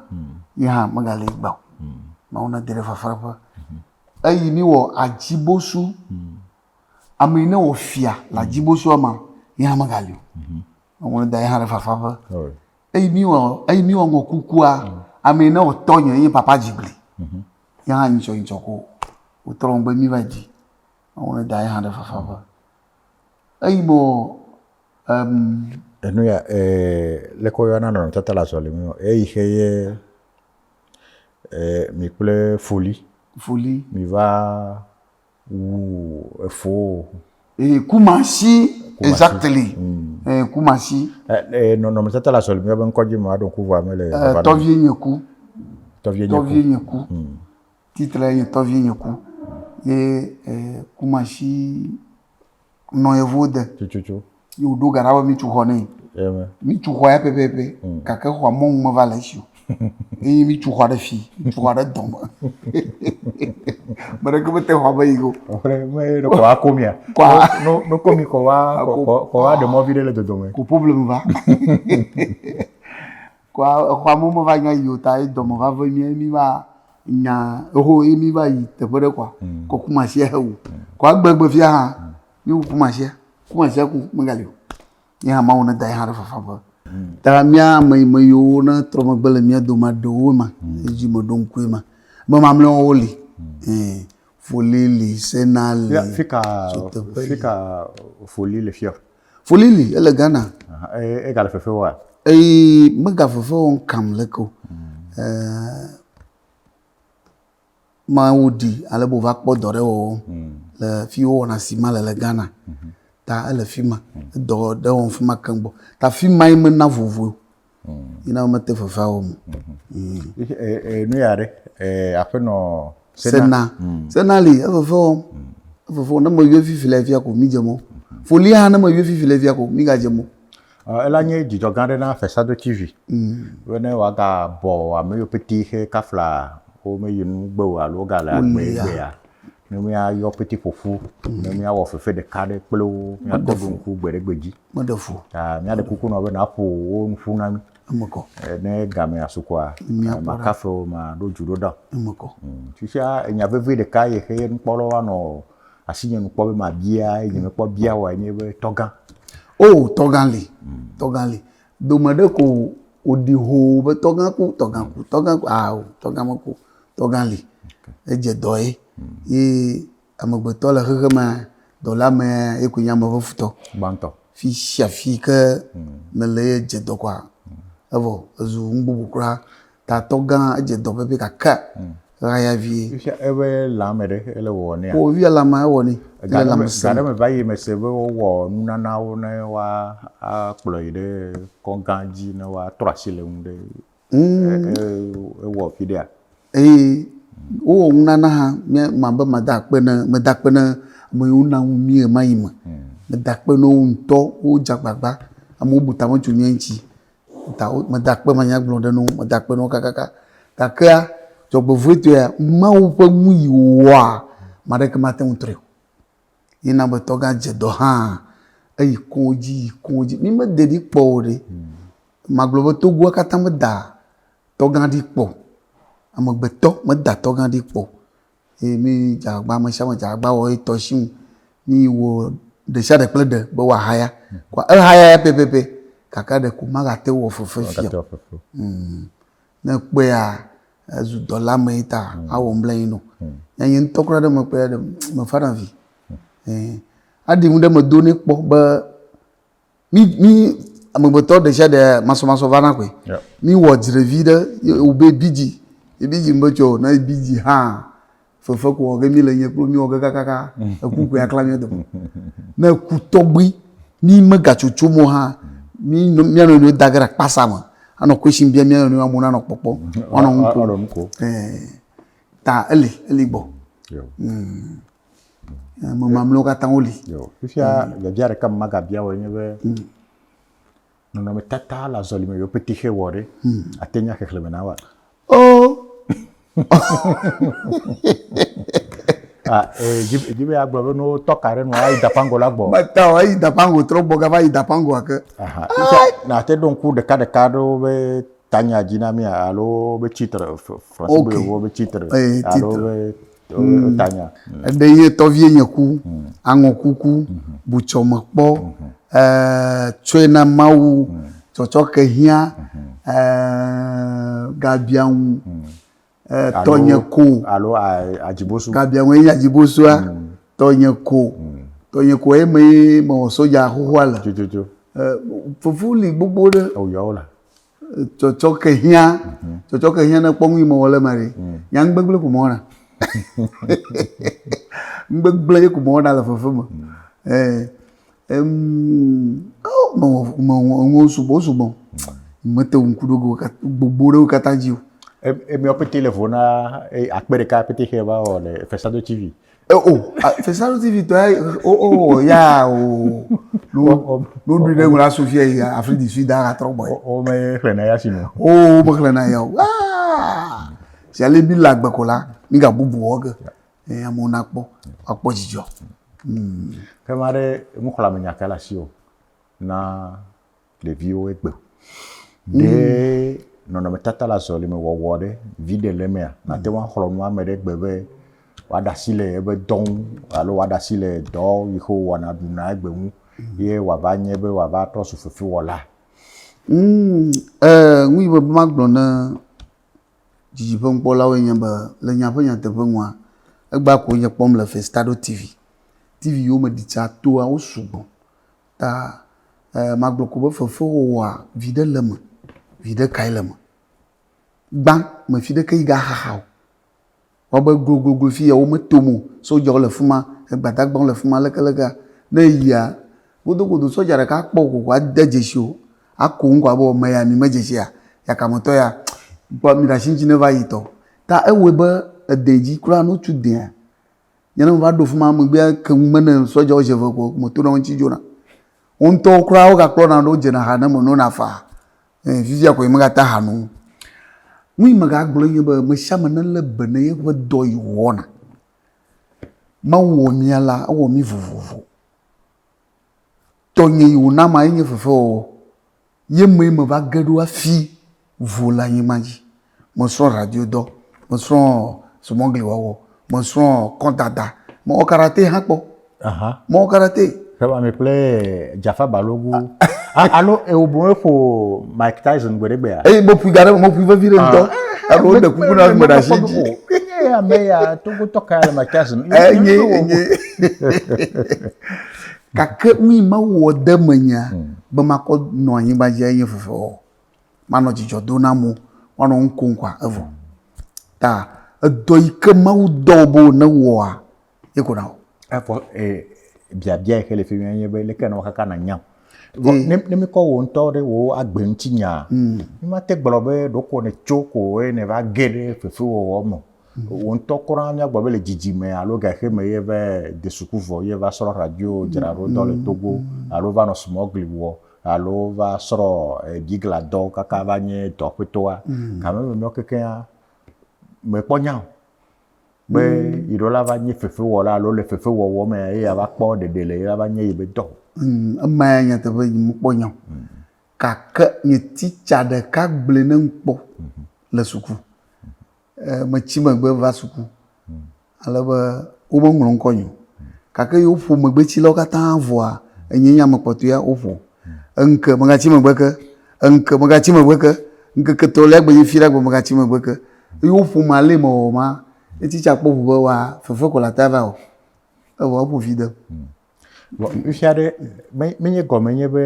yi hã mega le gbɔ mawo ne da ɖe fafa ƒe eyi mi wɔ adzibosu ame ne wɔ fia le adzibosu ama yi hã mega le o Ŋlɔ da hã ɖe fafa ƒe. Eyi mi wɔ eyi mi wɔ ŋɔ kukua ame ne wɔ tɔ nye ye papa dzigli. Ya hã nyitsɔ nyitsɔ ko o tɔ ŋgbe mi va dzi. Ŋlɔ da hã ɖe fafa ƒe. Eyi mo em. Enu ya eh le kɔ yɔna nɔ tata la zɔli mi o. Eyi xe ye eh mi kple foli. Foli. Mi va. wu efoo. Ee, kumasi. Exactly. Mm. Ee, kumasi. Ee, nɔnɔmetata le asɔli mía be ŋkɔdzi me aɖo ŋku vɔa mele. Ee, tɔvie nye ku. Tɔvie nye ku. Tɔvie nye ku. Mm. Titre ye tɔvie nye ku. Ye ee, kumasi. nɔ yevuwo de. Tututu. Ye wòɖo ga ɖa be mìtu xɔ nɛ. Amen. Mìtu xɔ ya pɛpɛpɛ. Mm. Gake xɔa mɔnu meva le esi o. Eye mìtu xɔa ɖe fi, mìtu xɔa ɖe dɔme. Ame ɖeke mete xɔa me yi o. Ɔƒle me ye ɖe xɔa ako mia. Kɔa. No no ko mi xɔa xɔ xɔ xɔa ɖe mɔ viɖe le dodome. Ko problème va. Kɔa exɔa me womeva nya yi o ta ye dɔme va ve mía ye míva nya eho ye míva yi teƒe ɖe kɔa mm. kɔ kumasia he wu mm. kɔa egbe egbe fia hã mm. míwu kumasia kumasia ku megali o ye hã mawu ne da ye hã ɖe fafa ƒe ta mía ame yi me yiwo ne trɔ megbe le mía dome aɖewo ma edzi me ɖo ŋkue ma be mamlɛwo li foli li sena li fika fika foli le fia Foli li, ele Ghana. Eye egale fefe wɔa? Eye mega fefe wɔm kam leke o. Hmm. Mawu di ale be wòva kpɔ dɔ ɖe wɔwɔ hmm. le fi wowɔna si ma le le Ghana. Hmm. Ta ele fi ma, edɔ ɖe wɔm fi ma keŋ gbɔ. Ta fi ma yi mena vovoe Yina wo mete vevea wo me. Nu ya ɖe aƒenɔ sena. Sena li eveve wɔm. Eveve wɔm ne me yɔ vivi le via ko mi dze mɔ. Foli hã ne me yɔ vivi le via ko mi ga dze mɔ. Ela nye dzidzɔ gã ɖe na Fesado TV. Be ne wa ga bɔ ame yo pɛtɛ xe kafla wo me yi nu gbe o alo wo ga le agbe gbe ya. Ne mi a yɔ pɛtɛ ƒoƒu ne mi a wɔ fefe ɖeka ɖe kple wo mi a kpɔ be ŋku gbe ɖe gbe dzi. Meɖe fu. Ah, míaɖe kuku nɔ be nàƒo wo nu ƒu na mí. Eme kɔ. Eh, Ne gamea su kɔa, Míakpɔ eh, ɖa. makafe wo, maɖo dzu ɖo ɖa. Eme kɔ. Mm, Fifia enya vevi ɖeka ye xe ye nukpɔlawo anɔ asinye nu kpɔ be mabia ye nye mekpɔ bia woa enye be tɔgã. O, tɔgã li. Tɔgã li. Dome ɖe ko wòɖi hoo be tɔgã ku, tɔgã ku, tɔgã ku. Ao, tɔgã meku o. Tɔgã li. Edze dɔ ye. Ye Amegbetɔ le xexe me, dɔla me ye koe nye ame ƒe futɔ. Gbãtɔ. Fi sia fi ke mele ye dze dɔ kɔa, evɔ ezu nu bubu kura. Tatɔ gã edze dɔ pɛpɛ gake ɣaya vie. Fifia eƒe lãme ɖe ele wɔwɔ nea? O fifia lãmea ewɔ nɛ. Ga ɖe me ga ɖe me va yi mese be wowɔ nunanawo ne woa akplɔ yi ɖe kɔgã dzi ne woatrɔ asi le enu ɖe ewɔ fi ɖea. eye wowɔ nunana hã nye mabe mada akpe ne meda akpe ne ame yiwo na ŋu mí ɣema yi me hmm. meda akpe ne wo ŋutɔ wodze agbagba amewo bu tame tso nye ŋuti ta meda akpe manya gblɔ ɖe ne wo meda akpe ne wo kakaka gakea dzɔgbevɔetɔea mawu ƒe nu yi wɔa maɖeke mate ŋu trɔe o Ye na be tɔgã dze dɔ hã eyi kodzi yi kodzi. Mi me de ɖi kpɔ o ɖe. Ma gblɔ be togoa katã me da tɔgã ɖi kpɔ. Ame gbetɔ me da tɔgã ɖi kpɔ. Ye mi dza agba me sia me dza agba wɔ etɔ shi ŋu. Mi wɔ ɖe sia ɖe kple ɖe be wa haya. Kɔa e haya ya pɛpɛpɛ kaka ɖeko ma ga te wɔ fefe fia o. Ne ekpɔea ezu dɔla mee ta mm. awɔ ŋbla yi no. Mm. Nye nye ŋutɔ kura ɖe me kpɔe ɖe me fa na vi. Mm. Aɖi ŋu ɖe me do ne kpɔ be mi mi amegbetɔ ɖe sia ɖe masɔmasɔ va na koe. Mi wɔ dzrevi ɖe wo be bidzi. Ebidzi me tsɔ na ebidzi hã. fefe ko wɔ ge mi le nye kplo mi wɔ ge kakaka eku ko ya kla mi dome ne eku tɔgbi mi me gatsotso mo ha mi no mi ano no da ge kpasa me ano question bia mi ano no amu na no kpɔkpɔ ano mu ko eh ta eli eli gbɔ mm mo mamlo ka ta oli yo fifia le bia re kam maga bia wo nye be mm. Nɔnɔmetata le azɔlime yio pete xe wɔ ɖe, ate nya xexleme na wa. Oh! Ah, eh, dzi dzi be agblɔ be no tɔ ka ɖe nu ayi dapango la gbɔ. Meta o, eyi dapango trɔ gbɔ gava yi dapango ake. Aha, ita na te ɖo ŋku ɖeka ɖeka ɖewo be tanya dzi na mi alo be titre, fr- français be Oke. wo be titre Eh, alo titre. be Mm. Tanya. Mm. Ebe ye tɔvie nye ku. Mm. Aŋɔ kuku. Mm. Butsɔ me kpɔ. Mm. Eh, tsɔe na Mawu. Mm. Tsɔtsɔ ke hiã. Mm. Eh, gabia ŋu. Mm. Eh, tɔ nye ko. Alo adzibosu. Gabia ŋu enye adzibosoa. Mm. Tɔ nye ko. Mm. Tɔ nye ko eme ye mewɔ soja xoxoa le. Tututu. Eh, fufu li gbogbo ɖe. Ewuyɔwo la. tsɔtsɔke hiã mhm. tsɔtsɔke hiã ne kpɔ ŋui mɔwɔ le ma ɖi mm. nya ŋgbegble ko mɔwɔ na ŋgbegble ye ko mɔwɔ na le fefe me mm. eh, mɔwɔ sugbɔ sugbɔ mm. mete ŋu ku ɖo gbogbo ɖewo katã dzi o. emiawo pete le vɔ na akpe ɖeka pete xe va wɔ le fesado tv. Eh, o oh, ah, fesanu tv tɔ ye o oh, o oh, ya o no no du ne ŋlɔ sofia yi afri di sud ara trɔ bɔ ye. o me xlɛ na ya si mo. o o me xlɛ na ya o aa si ale bi la gbɛ ko la mi ka bubu wɔ ke ɛ amewo na kpɔ akpɔ dzidzɔ. kɛmɛ aɖe nuxlɔame nya ka le asi o na. ɖeviwo egbe. Ɖe mm. nɔnɔmetata le azɔlime wɔwɔ ɖe viɖe le emea, nate ŋu axlɔ nu ame ɖe gbe be wòaɖe asi le eƒe dɔ ŋu alo wòaɖe asi le dɔ yi ke wòwɔna ɖuna egbe ŋu mm. ye wòava nye be wòava trɔ zu fefewɔla. Mm, eh, nu yi be magblɔ ne dzidzi ƒe nukpɔlawo nye be le nya ƒe nyateƒe nua, egba ko nye kpɔm le Festado TV. TV yiwo me ɖi tsa toa wo sugbɔ. ta magblɔ ko be fefewɔwɔa viɖe le me viɖe kae le me gbã mefi ɖe ke yi ga xaxa o wɔ be glogloglo fi ya wo me to mo sɔdjawo le fima gbadagbawo le fima leke leke ne yia godo godo sɔdja ɖeka kpɔ ko wa de dzesi o ako ŋgɔ abe ɔme ya mi me dzesi ya ya kame tɔ ya gbɔ mi ɖasi ŋti ne va yi tɔ ta ewɔe be edɛ dzi kura no tu dɛa Nye ne meva ɖo fima megbea ke ŋu me ne sɔdza wo dze ve ko me tona wo ŋuti dzona. Wo ŋutɔwo kura wo ga kplɔna ɖo dzena ha ne me nona faa. E fifia ko nye me ga ta ha no. Nu yi me ga gblɔe nye be me sia me ne le be ne ye ƒe dɔ yi wɔna. Mawu wɔ mia la ewɔ mi vovovo. Tɔnye yi wòna ma ye nye fefewɔwɔ. Ye mee meva ge ɖo hafi vo le anyigba dzi. Mesrɔ̃ radiodɔ, mesrɔ̃ zumɔgliwɔwɔ, mesrɔ̃ kɔdada, mewɔ karate hã kpɔ. Aha. Mewɔ karate. Xewame kple Jafa Balogu. A- Alo eo boŋ eƒo Mike Tyson gbe ɖe gbea? Eye meƒoe da ɖe eme, meƒoe vevi ɖe ŋutɔ. Ah, Alo woɖe kuku na ame ɖe asi dzi. Enye ame ya, Togotɔ kae le Mike Tyson? Enye, enye. gake nu yi mawu wɔ de menye hmm. be makɔ nɔ anyigba dzi enye veve wɔ manɔ dzidzɔ do na mo manɔ nu kom kɔa evɔ ta edɔ yi ke mawu dɔ bo ne wɔa ye ko na o. efɔ ee biabia yi ke le fi mi enye be leke nɔ kaka na nyam. ne ne mi kɔ wo ŋutɔ ɖe wo agbe ŋuti nya. mi ma te gblɔ be ɖoko ne tso ko eye ne va ge ɖe fefewɔwɔ me. Wò ŋutɔ kura míagblɔ be le dzidzime alo gaheme ye va de suku vɔ ye va srɔ radio dzra ɖo dɔ le Togo alo va nɔ smuggling wɔ alo va srɔ bigla dɔ kaka va nye dɔ ƒetoa. Gama eme mìɔ kekeŋa, me kpɔ nya o be yiɖo la va nye fefewɔla alo le fefewɔwɔ me ye ya va kpɔ ɖeɖe le ye la va nye yi be dɔ o. Ema ya nyateƒe nye me kpɔ nya o. Gake nye teacher ɖeka gblɔe ne ŋkpɔ le suku. Metsi megbe va suku ale be womeŋlɔ ŋkɔ nye o. Gake yi woƒo megbetsilawo katã vɔa, enye nye ame kpɔtɔea woƒo. Eŋke megatsi megbe ke, eŋke megatsi megbe ke, ŋkeke etɔ̃lia gbenye fiɖe agbe megatsi megbe ke. Yi woƒom ale yi mewɔwɔ ma, etsi tsa kpɔ ŋu be wa fefe ko le ata va wɔ. Evɔ eƒo vi dem. Vɔ nufia ɖe, menye gɔme nye be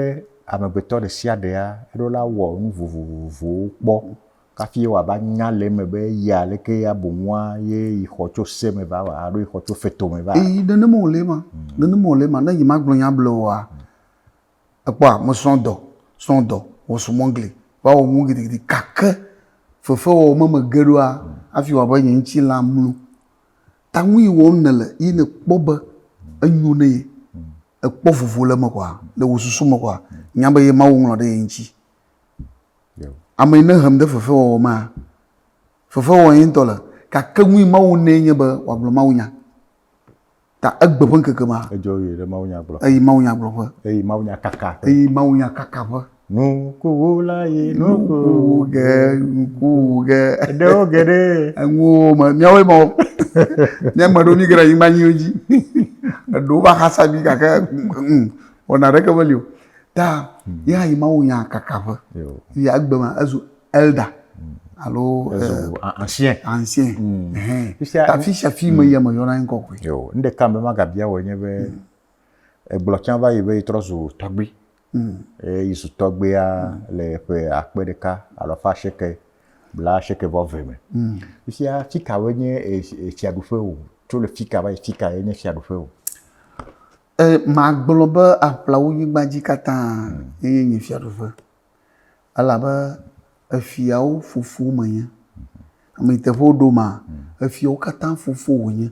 amegbetɔ ɖe sia ɖe aɖo la wɔ nu vovovowo kpɔ kafi wòava nya le eme be yea aleke ya bu nua ye yi xɔ tso se me va wɔ alo yi xɔ tso feto me va. Eyi nenema wòle ema, nenema wòle ema. Ne nyemagblɔ nya ble oa, èkpɔa, mesrɔ̃ dɔ, srɔ̃ dɔ, wɔ sumɔgle, va wɔ nuwo gidigidi gake fefewɔwɔ me megbe ɖoa, hafi wɔ abe nye ŋutilã mlu. Ta nu yi wɔm nèle ye nèkpɔ be enyo ne ye, èkpɔ vovo le eme kɔa, le wò susu me kɔa, nya be ye Mawu ŋlɔ ɖe ye ŋuti. Ame yi ne hem ɖe fefewɔwɔ mea, fefewɔm ye ŋutɔ le. Gake nu yi Mawu nɛ nye be wòagblɔ mawunya. Ta egbe ƒe ŋkeke ma. Edzɔ ʋɛ ɖe mawunyagblɔƒe. Eyi mawunyagblɔƒe. Eyi mawunyakakaƒe. Eyi mawunyakakaƒe. Nukuwula yi nuku wu ge, nuku wu ge. Eɖewo ge ɖe. Enuwo me, míawoe ma wo. Mía ame ɖewo míege ɖe anyigba nyuiwo dzi. Eɖewo va xasa mí gake wɔna ɖeke meli o. Ta ye hã yi Mawu nya kaka ƒe. Yi egbe me ezu elda alo ancien. Ancien. Ta afi sia afi me yia me yɔna eŋkɔ koe. Nu ɖeka mema gabia wò enye be egblɔ tsã va yi be yi trɔ zu tɔgbui. Hmm. Eye Yesu tɔgbia hmm. le ƒe akpe ɖeka alafa asieke bla asieke vɔ ve me. Hmm. Fifia fikawoe nye efiaɖuƒe o. Tso le fika va yi fika ye nye fiaɖuƒe o. E, magblɔ be aƒlawo nyigba dzi katã eye nye fiaɖuƒe. Elabe efiawo fofo menye. Ame teƒe woɖo ma, efiawo katã fofo wònye.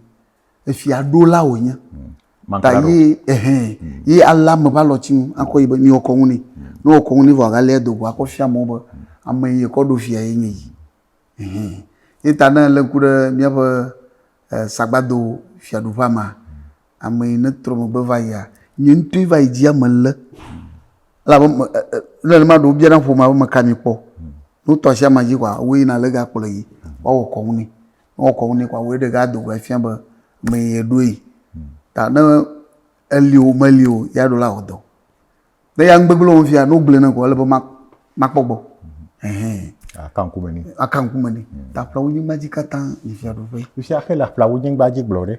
efia ɖo la wònye hmm. ta ye ehɛn hmm. ye alé ame ƒe alɔti ŋu akɔ yi be mi wɔkɔ ŋu nɛ ne wɔkɔ ŋu nɛ vɔ agalé edo go akɔ fia amewo be hmm. ame yi ekɔ ɖo fia ye nye yi ehɛn ye ta ne elé ŋku ɖe míaƒe eh, sagbado fiaɖuƒea mea ame yi ne trɔ megbe va yia nye ŋutɔe va yi dzi ame lé elabe eh, eh, nenema ɖewo biana ƒomea be meka mi kpɔ ne wotɔ asi ama dzi kɔa woyina le gakplɔ yi woawɔ kɔ ŋu nɛ. Ne wɔ kɔnu nɛ kɔa, wòe ɖe gado vɔ efia be mee ye ɖoe. Ta ne eli o meli o ya ɖo la wɔ dɔ. Ne ya ŋgbegblẽ wɔm fia, ne wogblẽ nam kɔ ele be ma makpɔ gbɔ. Ɛhɛn. Aka ŋkume nɛ. Aka ŋkume nɛ. Ta ƒlawonyigba dzi katã yi fiaɖuƒe. Fifia ke le ƒlawonyigba dzi gblɔ ɖe.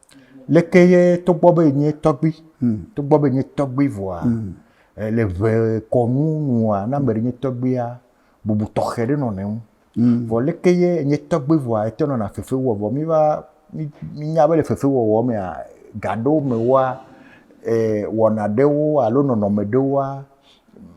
Leke ye togbɔ be enye tɔgbui, togbɔ be enye tɔgbui vɔa, le ŋee kɔnu nua, ne ame ɖe nye tɔgbuia, bubu tɔxɛ ɖe nɔna eŋu. Vɔ leke ye enye tɔgbui vɔa ete nɔna fefe wɔm. Vɔ mí va, mínya be le fefe wɔwɔ mea, ga ɖewo me woa, wɔna ɖewo alo nɔnɔme ɖewoa,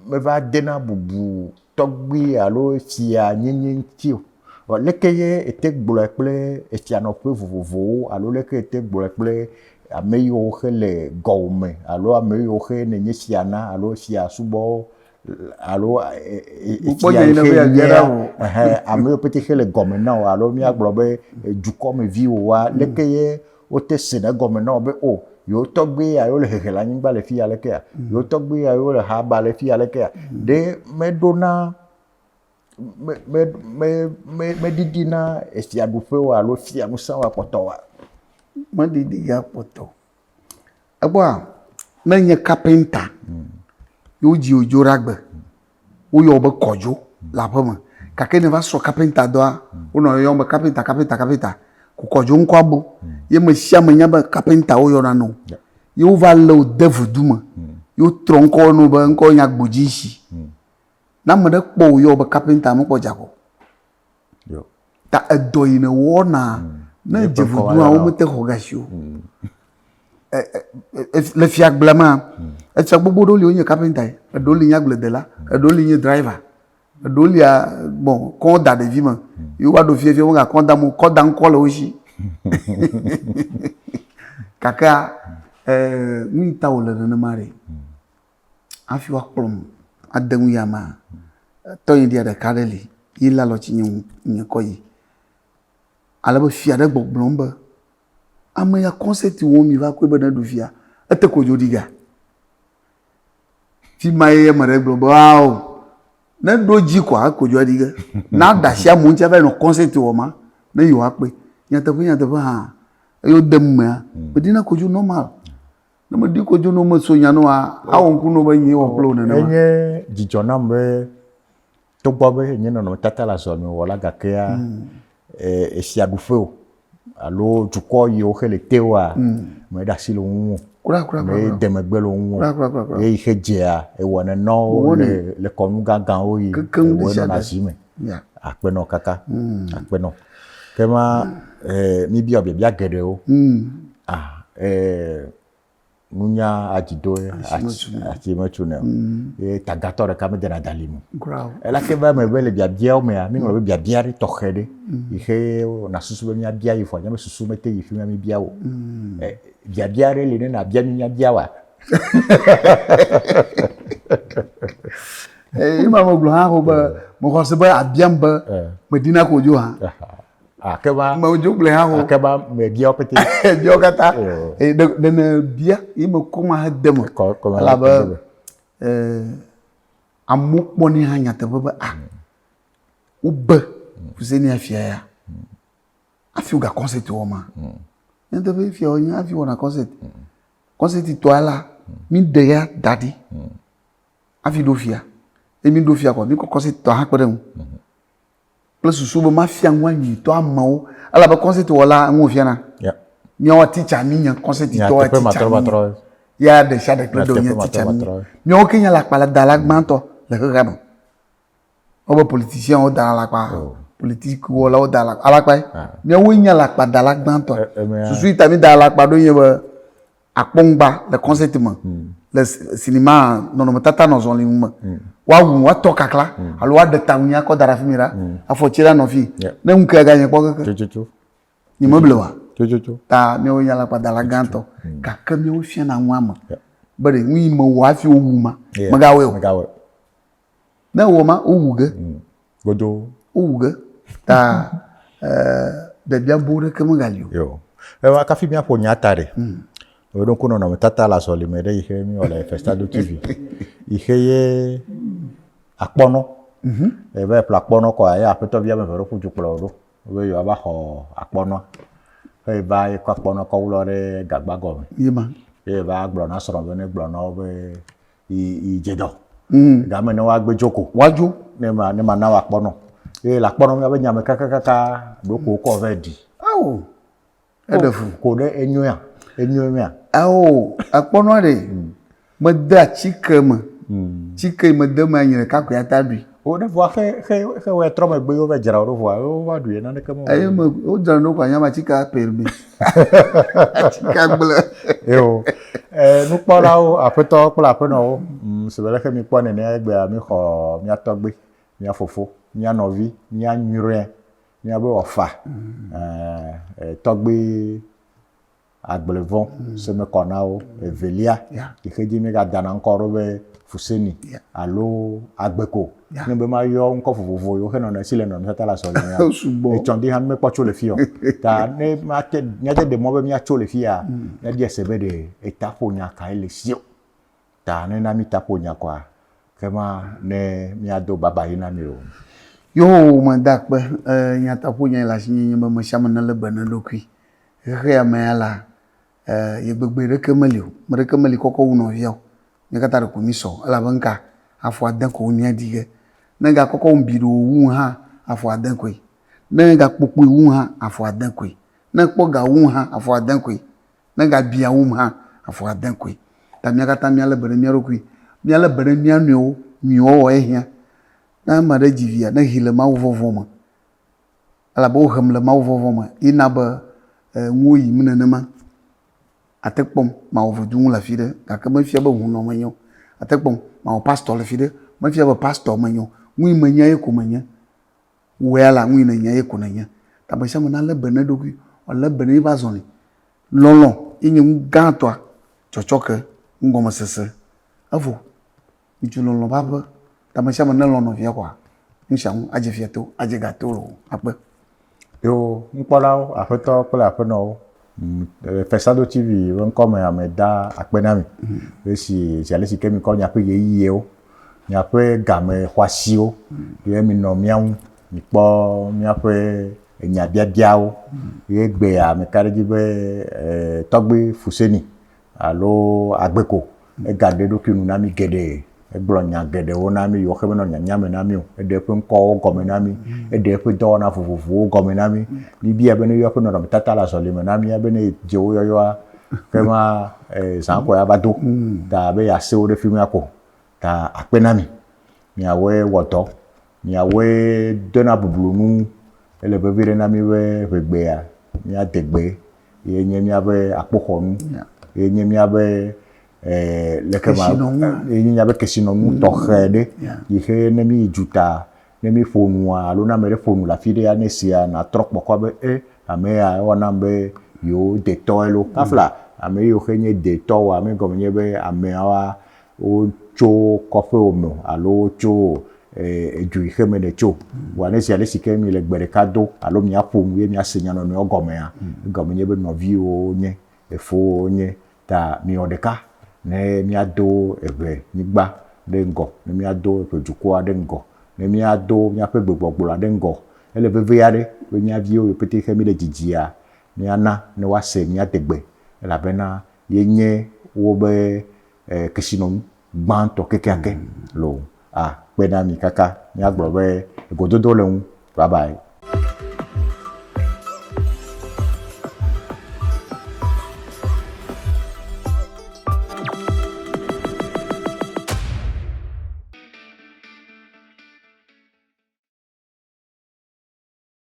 meva dena bubu tɔgbui alo fia nyenye ŋuti o. Vɔ leke ye ete gblɔe kple efianɔƒe vovovowo alo leke ete gblɔe kple ame yiwo xe le gɔwòme alo ame yiwo xe nènye fia na alo fia subɔ alo fia yi xe nyea? Ɛhɛɛ, ame yiwo pɛtɛ xe le gɔme na wò alo míagblɔ be dukɔmeviwowoa, leke ye wote sena egɔme na wo be o, yewo tɔgbui ya yewole hehe le anyigba le fi ya lekea? Yewo tɔgbui ya yewole ha ba le fi ya lekea? Ɖe meɖona me, me, me, me, meɖiɖina efiaɖuƒe o alo fiaŋusẽ wa kpɔtɔ oa? Meɖiɖia kpɔtɔ o. Ekpɔa, ne enye kapenta ye wodzi wò dzo ɖe agbe, woyɔ wò be kɔdzo le aƒe me gake ne èva srɔ̃ kapenta dɔa, wonɔ yɔyɔm be kapenta, kapenta, kapenta. Ko kɔdzo ŋkɔa bu. Ye ame sia ame nya be kapenta woyɔna nɛ o. Ye wova lé wò de vudu me. Ye wotrɔ ŋkɔwò na wò be ŋkɔwò nye agbodzesi. Ne ame ɖe kpɔ wò yɔ be kapinta mekpɔ dza ko. Ta edɔ yi ne wɔna hmm. ne dzevudu awo mete xɔ gasi o. Hmm. Le fiagblea ma, hmm. etsa gbogbo ɖewo li wonye kapinta yi, eɖewo li nye agbledela, eɖewo li nye driver, eɖewo lia bɔn kɔ da ɖevi me. Yewo va ɖo fiefie wo gakɔ da mo, kɔ da ŋkɔ le wo si. Kakea, nu yi ta wòle nenema ɖe. hafi woakplɔm ade ŋu yi amea, tɔnyeɖia ɖeka aɖe li yi lé alɔti nye ŋu nye kɔ yi. Ale be fia ɖe gbɔgblɔm be, ame ya kɔnsɛti wɔm miva kɔe be neɖu fia, ete ko dzo ɖi ga. Fi ma ye ame ɖe gblɔ be ao neɖo dzi kɔa eko dzo aɖi ge. Naɖe asi amewo ŋuti ava yi nɔ kɔnsɛti wɔm ma ne yewoakpɔe. Nyateƒe nyateƒe hã eye wode emea meɖina ko dzo nɔmal. Ne meɖi ko dzono meso nya ne wa, awɔ ŋku ne be nyee wɔ kple wò nenema. Enye dzidzɔ nam be togbɔ be nye nɔnɔmetata le azɔ nyeo wɔ la gakea eh, esia ɖu ƒe o alo dukɔ yiwo xe le te oa, meɖe asi le wo ŋu o. Kura, kura, kura, kura. Mede megbe le wo ŋu o. Kura, kura, kura, kura. Eye xe dzea, ewɔnɛ nɔwo Mewɔnɛ. le, le kɔnu gãgãwo yi Kekeŋ ewɔe ɖesiaɖe. nɔna zi me. Yeah. Akpenɔ kaka. Mm. Akpenɔ. Ke ma eh, míbiɔ biabia geɖewo. Mm. Ah, eh, nunya adzido ati metsu ne ye mm. tagatɔ ɖeka medena dali mu elake be ame be le biabiawo mea míŋlɔ be biabia ɖe tɔxɛ ɖe mm. yi xe na susu be míabia yi fɔ nyame susu mete yi fi mía míbia o mm. eh, biabia ɖe li ne nabia mi míabia wa Eye ma megblɔ hã ho be mexɔse be abiam be medina ko dzo hã. Akeba. Medzo gblɔ hã ho. Akeba mebia wo pete. Bia wo katã. Ɖe ne bia yi me kɔ ma he de me. Kɔ kɔ ma he de me. Amewo kpɔ ne hã nyateƒe be a wobe fuse ne afia ya. Afi woga kɔnsɛti wɔ ma. Nyateƒe fia wo nya afi wɔna kɔnsɛti. Kɔnsɛti tɔa la mi ɖe ya da ɖi. avi ɖo fia ye mi ɖo fia kɔ mi kɔkɔ si tɔ hakpe ɖe ŋu kple susu be ma fia ŋu anyi tɔ amewo ala be kɔsi tɔ la ŋu fia na miawo titsa mi nya kɔsi tɔ la titsa mi ya ɖe sia ɖe kple ɖo nya titsa mi miawo ke nya la kpala da la gbãtɔ le xexea me. Wobe politician wo da alakpa. Oh. Politique wɔla wo da alakpa. Alakpa ye. Ah. Míawoe nye alakpa da la gbãtɔ. Eh, eh, eh. Susu yi ta mi da alakpa ɖo nye be akpɔŋgba le concert me. Mm. Le cinéma nɔnɔmetata nɔ zɔli ŋu me. Mm. Woawu woatɔ kakla mm. alo woaɖe ta ŋu akɔ da ɖe afi mi ɖa. Mm. Afɔ tsi ɖe anɔ fi. Yeah. Ne ŋu ke ga nye kpɔ keke. Tsotsotso. Nye me ble wa. Tsotsotso. Ta míawoe nye alakpa da la gbãtɔ. Mm. Gake míawoe fiana ŋua me. Yeah. Be ɖe ŋu yi me wɔ hafi wowu ma. Yeah. Megawɔe o. Megawɔe. Ne wɔ ma, wowu ge. Mm. Godo. Wowu ge. Ta biabia bo ɖeke megali o. Yo. Ewa kafi míaƒo nya ta ɖe. Mm. Eɖo ŋku nɔnɔmetata le azɔlime ɖe yi xe mi wɔ le Festado TV. Yi xe ye akpɔnɔ. Mhm. Ebe ƒle akpɔnɔ kɔ ye aƒetɔ bia me veɖo ƒu dukplɔ ɖo. Be yo ava xɔ akpɔnɔ. Xe yi va yi kɔ akpɔnɔ kɔ wlɔ ɖe gagba gɔme. Yema. Ye va gblɔ na srɔ̃ be ne gblɔ na wo be yi dze dɔ mm. game ne woagbe dzo ko woadzo ne ma ne ma na woakpɔ nɔ eye le akpɔ nɔ míabe nya me kakakaka ɖoko wokɔ vɛ ɖi ao eɖe fu ko ɖe enyoea enyoea ao akpɔ nɔ ɖe mm. mede atsike me mm. tsike mede me anyi ɖeka koe ata ɖui Woɖe vɔa xe xe xe wɔ trɔ megbe yewo va dzra wo ɖo vɔa yewo va ɖui naneke me. Eye me wodzra ɖo kwa nyama tsika per mi. Tsika gblẽ. Yo. E nukpɔlawo aƒetɔ kple aƒenɔwo mm, si be leke mi kpɔ nene egbea mi xɔ mia tɔgbe, mia fofo, mia nɔvi, mia nyuiɖe, mia be wɔfa. Mm. Eh, eh, tɔgbe Agble vɔ se me kɔ na wo. Evelia yi xe dzi mi ga da na ŋkɔ ɖo be Fuseni alo Agbe ko. Ne be ma yɔ ŋkɔ vovovo yi wo xe nɔ na si le nɔnɔme tata le asɔ le mea, etsɔ ŋdi hã mi me kpɔ tso le fia o. Ta ne ma te mia te ɖe mɔ be mia tso le fia, mia bia se be ɖe eta ƒo nya ka ye le si o. Ta ne na mi ta ƒo nya kɔa, ke ma ne mia do baba yi na mi lo. Yo me da akpe, e nya ta ƒo nya yi le asinye nye be mesiame ne le be ne ɖokui. Xexea mea la, yegbegbe ɖeke meli o. Me ɖeke meli kɔkɔ wu nɔvia o. Mía katã ɖeko mísɔ. Elabe nuka? Afɔ ade koe wonye adi ge. Ne egakɔkɔ wum biɖoo wum hã, afɔ ade koe. Ne egakpɔ kpui wum hã, afɔ ade koe. Ne ekpɔ ga wum hã, afɔ ade koe. Ne egabiã wum hã, afɔ ade koe. Ta mía katã míalé be ɖe mía ɖokui. Míalé be ɖe mía nɔewo nyuiwɔwɔ ehiã. Ne ame aɖe dzi via, nexee le Mawuvɔvɔ̃ me. elabe wohem le mawuvɔvɔ̃ me ye na be ŋuwo yim nenema. Àte kpɔm mawɔ voduŋu le afi ɖe gake mefia be hũnɔ menye o. Àte kpɔm mawɔ pastɔ le afi ɖe, mefia be pastɔ menye o. Nu yi menya ye ko menye. Wò ya la, nu yi nènya ye ko nènye. Ta ame sia ame nalé be na eɖokui, wòalé be na eƒe azɔli. Lɔlɔ̃ ye nye nu gãtɔa, tsɔtsɔke, nugɔmesese. Evɔ Ŋutsu lɔlɔ̃ va ƒe. Ta me sia me nelɔ̃ nɔvia kɔa, nu sia nu adze fia to, adze ga to loo akpe. Yewo nukpɔlawo, aƒetɔwo kple aƒenɔwo, Fesado TV be ŋkɔ me ame da akpe na mi le si zi ale si ke mi kɔ miaƒe ɣeyiɣiwo, miaƒe game xɔasiwo ye mi nɔ mía ŋu, mi kpɔ míaƒe enya biabiawo ye gbea mi ka ɖe edzi be Tɔgbui Fuseni alo agbe ko. Egaɖe eɖokui nu na mí geɖe. Egblɔ nya geɖewo na mí yiwo xe menɔ nyanya me na mí o. Eɖe eƒe ŋkɔwo gɔme na mí. Eɖe eƒe dɔwɔna vovovowo gɔme na mí. Míbiae be neyɔ eƒe nɔnɔmetata le azɔli me na mía be ne yedze wo yɔyɔa, ekema zã kɔe ava do ta be yeasẽ wo ɖe fi ma ko. ta akpe na mi. Miawɔe wɔ dɔ, miawɔe dena bublu nu. Ele vevi ɖe na mi be ŋɛgbea, miade gbe ye nye miaƒe akpoxɔnu, ye nye miaƒe leke ma, ye nye miaƒe kesinɔnu tɔxɛ ɖe yi xe ne mi yi dzuta, ne mi ƒo nua alo ne ame ɖe ƒo nu le afi ɖea, ne esia na trɔ kpɔ kɔ be e ame ya ewa nam be yewo detɔ elo. Kafla ame yiwo xe nye detɔ woa, me gɔme nye be ameawoa wotso kɔƒewò me o alo wotso edu yi xe me nètso o. Vɔa ne ziaɖe si ke mi le gbe ɖeka do alo miaƒo nu ye miase nya nɔnɔewo gɔmea, egɔme nye be nɔviwò wonye, efowò wonye. Ta miwɔ ɖeka ne miado eŋɛ nyigba ɖe ŋgɔ, ne miado eŋɛ dukɔa ɖe ŋgɔ, ne miado miaƒe gbegbɔgblɔa ɖe ŋgɔ. Ele veve aɖe be mía viwo yi pɛtɛ xe mi le dzidzia, miana ne woase mía degbe elabena ye nye wobe eh, kesinɔnu gbãtɔ kekeake lo akpe na mi kaka míagblɔ be egododo le ŋu. Bye bye.